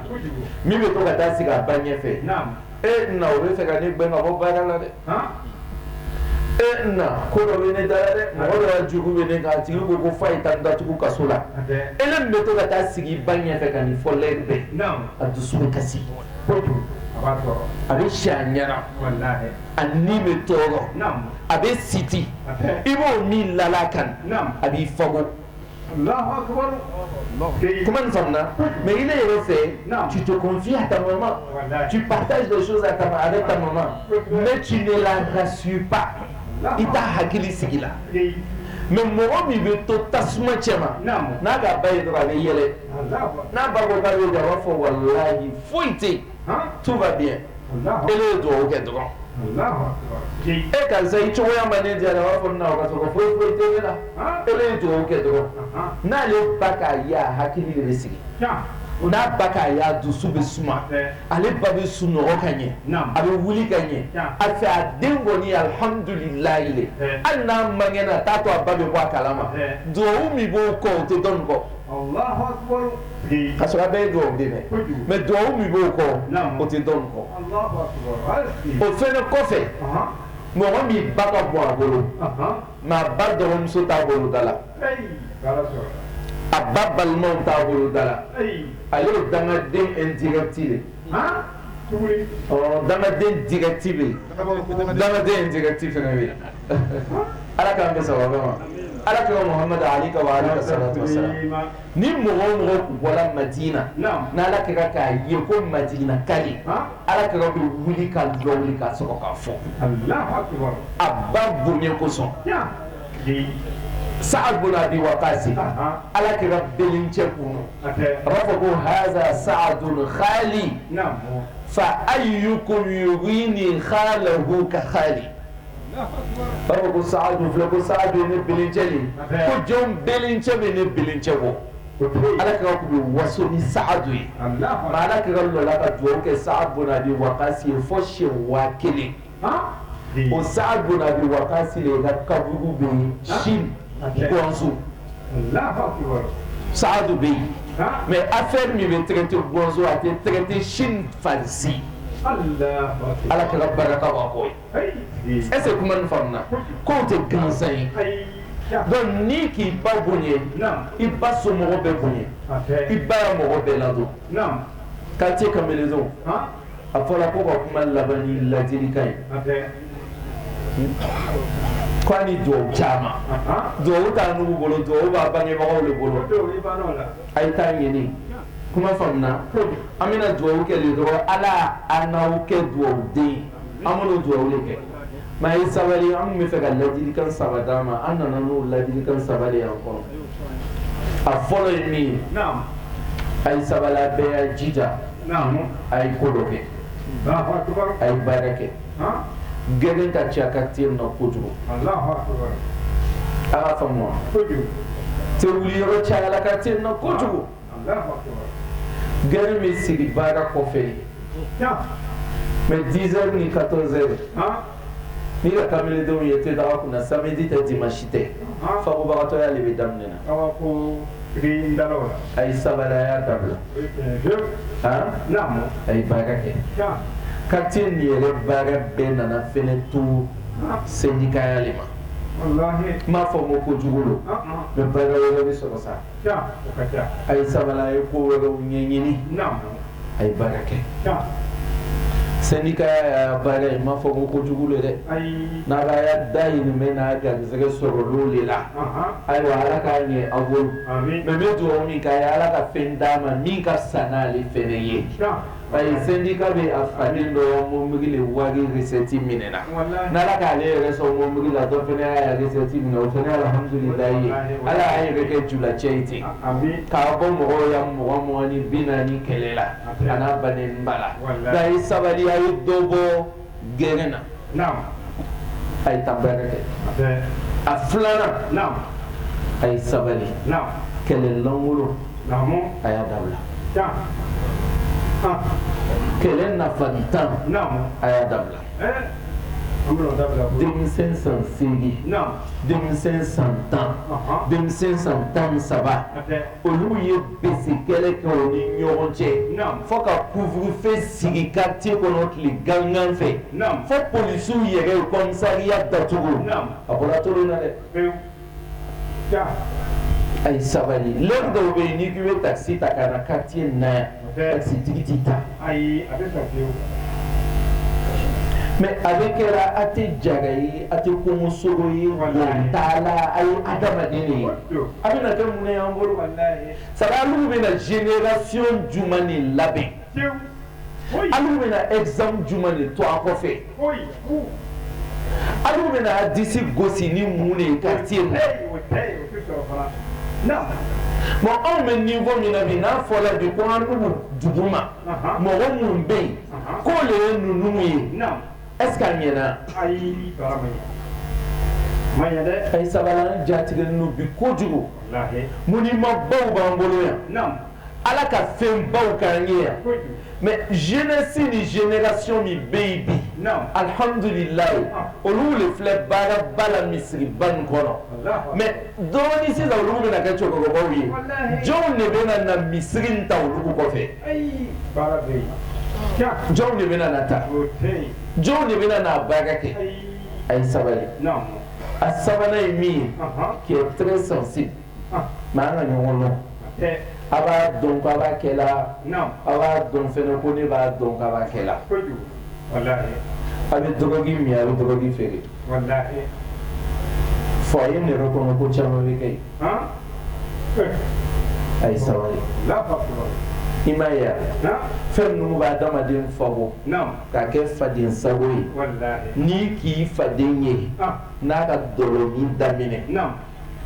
min bɛ to ka taa sigi a ba ɲɛ fɛ e na o fɛ ka ne gɛn ka bɔ baara la dɛ e na ko dɔ bɛ ne da la dɛ mɔgɔ jugu bɛ ne tigi ko ko fa ta da tugu ka so la e bɛ to ka taa sigi ba ɲɛ fɛ ka nin fɔ lɛri bɛɛ a dusu bɛ kasi a bɛ si ɲɛna a ni bɛ tɔɔrɔ a bɛ siti i b'o min la kan a b'i fa kuma mɛ i ne yɛrɛ fɛ jitfiya ta ci ba ta a bɛ ta mɛ ci ne la ka suba i ta hakili sigi la mɛ mɔgɔ min bɛ to tasuma cɛ ma n'a ka ba a bɛ yɛlɛ n'a ba a b'a fɔ wala foyi tɛ tout va bien e ye dugawu kɛ dɔgɔ e karisa i cogoya ma ne diya a b'a fɔ na k'a sɔrɔ foyi foyi tɛ la e ye dugawu kɛ dɔgɔ n'ale ba k'a ya hakili de bɛ sigi u n'a ba k'a ya dusu bɛ suma ale ba bɛ sunɔgɔ ka ɲɛ a bɛ wuli ka ɲɛ a fɛ a den kɔni alihamdulilayi hali n'a mangɛnna t'a to a ba bɛ bɔ a kala ma dugawu min b'o kɔ o tɛ dɔ in kɔ K'a sɔrɔ bɛɛ ye dugawuden mais dugawu min b'o kɔ o tɛ dɔ in kɔ o fɛn kɔfɛ mɔgɔ min ba ka bon a bolo nka a ba dɔgɔmuso t'a boloda la a ba balimaw t'a boloda la ale ye dangaden indirect ye dangaden direct bɛ dangaden indirect fana bɛ ala k'an kisi a bɛɛ ma ala kira mamadu alayhi wa salatu wa salam ni mɔgɔ mɔgɔ tun bɔra madina n' ala kira k'a ye ko madinaka le ala kira bɛ wuli ka jɔ ka sɔrɔ k'a fo a ba bonya kosɔn sabu a di wa' sigi ala kira bɛlɛncɛw A b'a fɔ ko haza Saadun hali fa ayukum yurini halahu ka hali ko Saadu filɛ ko Saadu ne belencɛ ko jɔn belencɛ bɛ ne belencɛ bɔ ala kira tun bɛ waso ni Saadu ye ala kɛlɛla ka jɔn kɛ sa bon a bɛ waga fɔ si waa kelen o Saadu banna waati sera ka kaburu bɛ sinsu Saadu bɛ yen mɛ a fɛn min bɛ tɛgɛti bɔnz a tɛ tɛgɛti sin fasi ala kira barika bɔ ye ɛsikɛ kuma nin faamuya ko tɛ gansan ye dɔnku ni k'i ba bonya i ba so mɔgɔ bɛɛ bonya i ba mɔgɔ bɛɛ ladon ka cɛ ka minɛn a fɔra ko ka kuma laban ni ladilikan ye ko a ni duwaw caman duwaw t'an bolo duwaw b'a bangebagaw le bolo a ye taa ɲini kuma faamuya an bɛna duwaw kɛ le dɔrɔn ala an n'aw kɛ duwaw den an bɛna duwaw le kɛ Mɛ a ye sabali an bɛ fɛ ka ladilikan saba d'a ma an nana n'o ladilikan saba le y'an kɔnɔ a fɔlɔ ye min ye a ye sabali bɛɛ jija a ye ko dɔ kɛ a ye baara kɛ gɛrɛn ka ca kartiye la kojugu an k'a fɔ te wuli yɔrɔ cayala kartiye la kojugu gɛrɛn bɛ sigi baara kɔfɛ mɛ dizɛri ni katɔrizɛri ni kamalendenw ye te da kunna samedi tɛ dimansi tɛ fagobagatɔya de bɛ daminɛ a ye sabali a y'a dabila a ye baara kɛ kartiye yɛrɛ baara bɛɛ nana f to sɛndikaya le ma n m'a fɔ ko ko jugu don mɛ baara bɛ sɔrɔ sa a ye sabali a ye ko wɛrɛw ɲɛɲini a ye baara kɛ sɛndikaya ye baara ye n m'a fɔ ko ko jugu de dɛ n'a k'a dahirimɛ n'a garisɛgɛ sɔrɔ o de la ayiwa ala k'a ɲɛ aw bolo mɛ n bɛ duwa min k'a ye ala ka fɛn d'a ma min ka fisa n'ale fana ye Ba sɛndika bɛ a fana dɔ mɔbili wari resɛti minɛ na n ala k'ale yɛrɛ sɔn mɔbili la dɔ fana y'a resɛti minɛ o fana alahamidulilayi ala y'a yɛrɛ kɛ jula cɛ in ten k'a bɔ mɔgɔw ya mɔgɔ mugan ni bi naani kɛlɛ la a n'a ba ba la da a ye sabali a ye dɔ bɔ gɛrɛn na naam a ye taa baara kɛ a bɛɛ a filanan naam a ye sabali naam kɛlɛ lankolon naamu a y'a dabila tan ah kɛlɛ nafantan naamu a y'a dabila ɛɛ an bɛna o dabila koyi denmisɛn san seegin naam denmisɛn san tan ɔhɔ denmisɛn san tan ni saba a bɛɛ Olu ye bese kɛlɛ kɛ u ni ɲɔgɔn cɛ fo ka couvre-feu sigi quartier kɔnɔ tile gangan fɛ fo polisiw yɛrɛ u commissariat datugu a bɔra tulon na dɛ a ye sabali dɔw bɛ yen ni bɛ taa se ta ka na quartier na tigi ta ayi a bɛɛ kɛra a tɛ jara ye a tɛ kungosogo ye t'a la a ye adamaden ye a bɛ kɛ mun an bolo sara alu bɛ na génération jumɛn de labɛn alu bɛna exemple jumɛn de to a kɔfɛ bɛna disi gosi ni mun de ye quartier in na naamu bon anw bɛ niveau min na bi n'a fɔra bi ko anw duguma mɔgɔ minnu bɛ yen k'o de ye ninnu ye est ce que a ɲɛna ayi wala a ma ɲɛ ma ɲɛ dɛ a ye sabali an jatigɛlen don bi kojugu walahi munimabaw b'an bolo yan naamu ala ka fɛn baw k'an ye yan mais jeunesse ni génération min bɛ yen bi alihamduli layi olu de filɛ baaraba la misiriba in kɔnɔ mais dɔɔnin sisan olu bɛna kɛ cɛkɔrɔbaw ye jɔn de bɛ na misiri in ta olu kɔfɛ jɔn de bɛ n'a ta jɔn de bɛ n'a baara kɛ a ye sabali a sabanan ye min ye qui est très sensible nka an ka ɲɔgɔn dɔn aw b'a dɔn k'a b'a kɛ la aw b'a dɔn fɛnɛ ko ne b'a dɔn k'a b'a kɛ la a bɛ dɔrɔgu min a bɛ dɔrɔgu feere fɔ a ye ne yɛrɛ kɔnɔ ko caman bɛ kɛ a ye sabali i ma yan fɛn ninnu bɛ adamaden fako k'a kɛ faden sago ye n'i k'i faden ye n'a ka dɔlɔ min daminɛ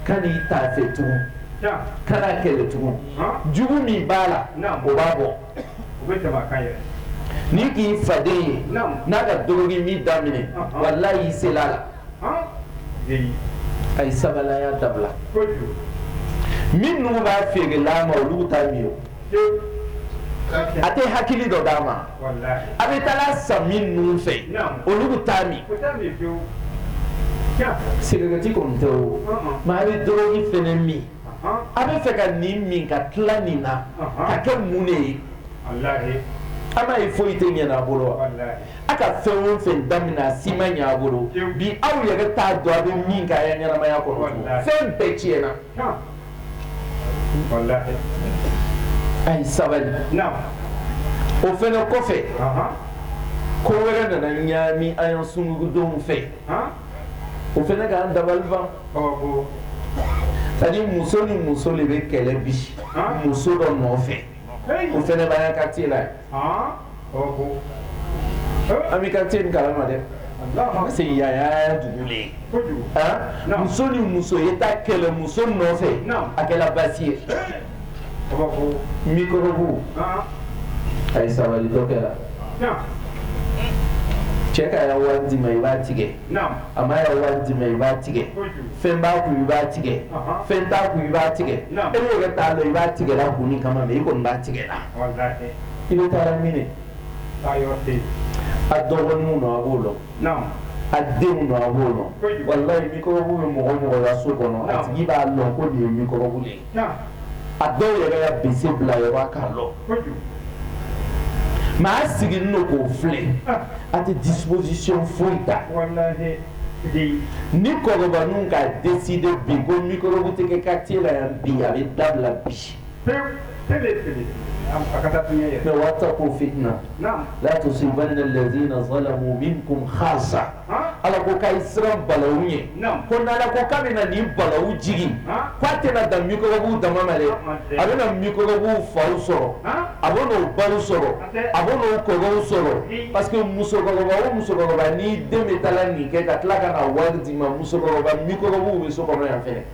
kana taa a fɛ tugun kan'a kɛlɛ tugun jugu min b'a la o b'a bɔ n'i k'i faden ye n'a ka dɔrɔgu min daminɛ walayi i sela a la a ye sabali a y'a dabila minnu b'a feere la a ma olu t'a min a tɛ hakili dɔ d'a ma a bɛ taa a san minnu fɛ olu t'a min sigarɛti ko tɛ nka a bɛ dɔrɔgu fɛnɛ min a b'a fɛ ka nin min ka tila nin na ka kɛ mun de ye walayi foyi tɛ ɲɛ a bolo a ka fɛn o fɛn daminɛ a si ma ɲɛ a bolo bi a yɛrɛ t'a dɔn a bɛ min ka ɲɛnamaya kɔnɔ fɛn bɛɛ tiɲɛna a ye sabali o fana kɔfɛ ko wɛrɛ nana ɲami an ya sungurundenw fɛ o fana k'an dabali ban ani muso ni muso de bɛ kɛlɛ bi muso dɔ nɔfɛ o fana b'an ya quartier la An bɛ ka se kala ma dɛ se yaya dugulen muso ni muso ye taa kɛlɛ muso nɔfɛ a kɛra basi ye mikɔrɔbu a ye sabali dɔ kɛra cɛ k'a ya wari d'i ma i b'a tigɛ a m'a ya wari d'i ma i b'a tigɛ fɛn b'a kun i b'a tigɛ fɛn t'a kun i b'a tigɛ e yɛrɛ t'a lɔn i b'a tigɛ la kun min kama i kɔni b'a tigɛ la i bɛ taa minɛ a dɔgɔninw lo a b'o lɔn a denw lo a b'o lɔn walayi mikɔrɔbu bɛ mɔgɔ o mɔgɔ ya so kɔnɔ a tigi b'a lɔn ko nin ye mikɔrɔbu de ye a dɔw yɛrɛ ka bin bila maa sigi k'o filɛ a tɛ disisi foyi ta ni kɔrɔ ka den de bin ko tigɛ ka ci la yan bi a bɛ dabila bi fit'a to sen lajɛz in na min ko hasa Ala ko k'a ye siran balawu ɲɛ ko n'ala ko k'a bɛna nin balawu jigin k' a tɛna dan mikɔrɔbuw dama ma dɛ a bɛna mikɔrɔbuw faw sɔrɔ a bɛna o baw sɔrɔ a bɛna o kɔrɔw sɔrɔ parce que musokɔrɔba o musokɔrɔba n'i den bɛ taa nin kɛ ka tila ka na wari d'i ma musokɔrɔba mikɔrɔbu bɛ so kɔnɔ yan fana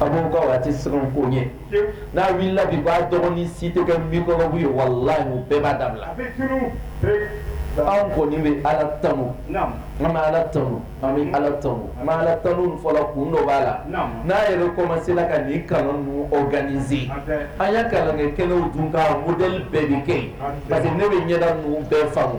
a ko a tɛ sɛbɛn ko ye n'a wulila bi k'a dɔgɔnin si tɛ kɛ mikɔrɔbu ye walayi o bɛɛ b'a dabila an kɔni bɛ ala tanun an bɛ ala tanun an bɛ ala tan an b'ala tanun fɔ la kun dɔ b'a la n'an yɛrɛ commencer la ka nin kalan ninnu organiser an ya kalan kɛ kɛnɛw dun ka modèle bɛɛ bɛ kɛ yen parce que ne bɛ ɲɛda ninnu bɛɛ faamu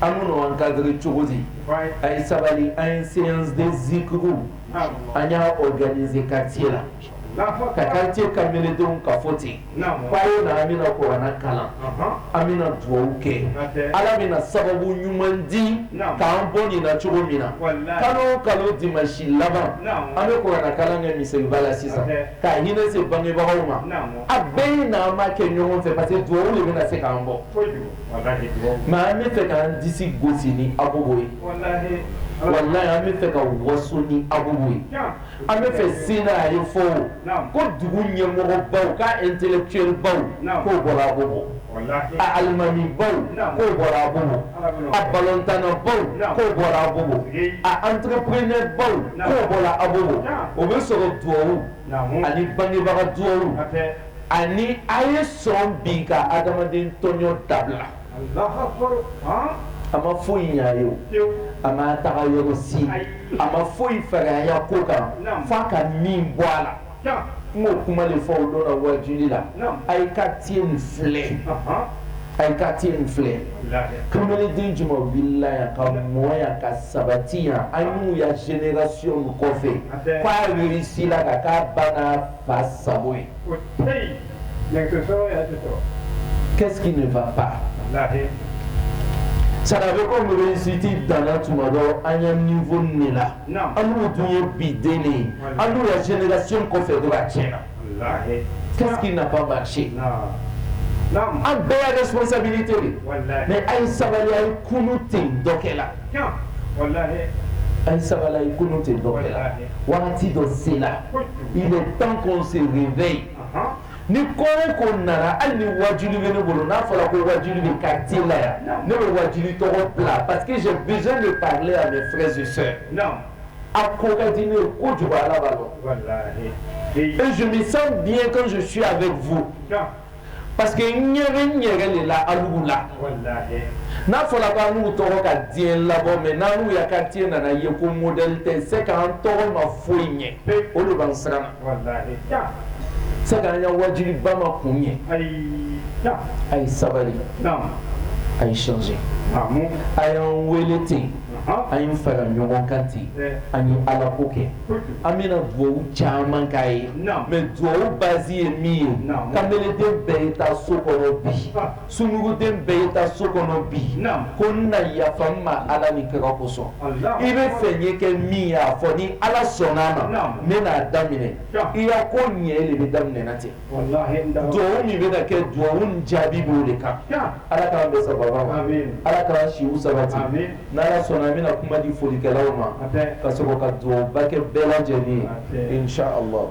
an bɛ ninnu encadrer cogo di a ye sabali an ye séance de zikiruw an y'a organiser quartier la ka quartier kamalendenw ka fɔ ten fa ye na an bɛna kurana kalan an bɛna dugawu kɛ ala bɛna sababu ɲuman di k'an bɔ nin na cogo min na kalo o kalo dimasi laban an bɛ kurana kalan kɛ misiriba la sisan ka hinɛ se bangebagaw ma a bɛɛ ye na an b'a kɛ ɲɔgɔn fɛ parce que dugawu de bɛna se k'an bɔ mais an bɛ fɛ k'an disi gosi ni Abobo ye walahi an bɛ fɛ ka waso ni Abobo ye an bɛ fɛ sen a ye fɔ ko dugu ɲɛmɔgɔbaw k'a intellectuel baw k'o bɔra Abobo a alimami baw k'o bɔra Abobo a balontannabaw k'o bɔra Abobo a entrepreneur baw k'o bɔra Abobo o bɛ sɔrɔ duwawu ani bangebaga du ani a ye sɔn bi ka adamaden tɔɲɔ dabila a ma foyi ɲɛ an ye a ma taga yɔrɔ si a ma foyi fɛrɛya ko k'an fɔ ka min bɔ a la n y'o kuma de fɔ dɔ wajuli la a ye quartier nin filɛ a ye quartier nin filɛ kanbeleden juman wulila yan ka mɔ yan ka sabati yan annu ya génération kɔfɛ ka réussi la ka ka bana fa sago ye o tɛ yen nɛgɛso sɔrɔ y'a tɛ sɔrɔ qu'est-ce qui ne va pas walahi sara bɛ ko université dan na tuma dɔ an ya niveau de la Naam. annu dun ye bi den de ye annu ya génération kɔfɛ dɔrɔn a tiɲɛna walahi qu'est-ce qui n'a pas marché naam naam an bɛɛ ya responsabilité de ye. walahi mais a ye sabali a ye kunu ten dɔ kɛ la naam walahi a ye sabali a ye kunu ten dɔ kɛ la walahi waati dɔ sen la i bɛ pan kun sen bɛ yen ni ko ko nana hali ni waju bɛ ne bolo n'a fɔra ko waju bɛ ka te la yan ne bɛ waju tɔgɔ bila pa que z bɛ ale a bɛ fɛsi a ko ka di ne ye ko ju ala b'a dɔn ezsa bi ye kan su su a bɛ fo Pa que ɲɛ bɛ ɲɛ de la alibu la n'a fɔra k' n'u tɔgɔ ka diɲɛ labɔ mɛ n'u ya ka diɲɛ nana ye ko mɔd tɛ se ka tɔgɔ ma foyi ɲɛ o de bɛ siran se ka ka waatijibiba ma kun ye a ye sabali a ye sonsan a y'an wele ten an ye fara ɲɔgɔn kan ten an ye ala ko kɛ an bɛna dugawu caman kɛ yen mais dugawu base ye min ye kanbeleden bɛɛ ye taa so kɔnɔ bi sunguruden bɛɛ ye taa so kɔnɔ bi ko nna yafa n ma ala ni kira kosɔn i bɛ fɛ n ye kɛ min ye a fɔ ni ala sɔnna a ma n bɛna a daminɛ i ya ko ɲɛ de bɛ daminɛna ten dugawu min bɛna kɛ dugawu in jaabi b'o de kan Ala k'an bɛn sawaba ma Ala k'an siw sabati n'Ala sɔnna an bɛna kuma di folikɛlaw ma ka sɔrɔ ka dugawuba kɛ bɛɛ lajɛlen ye in challahu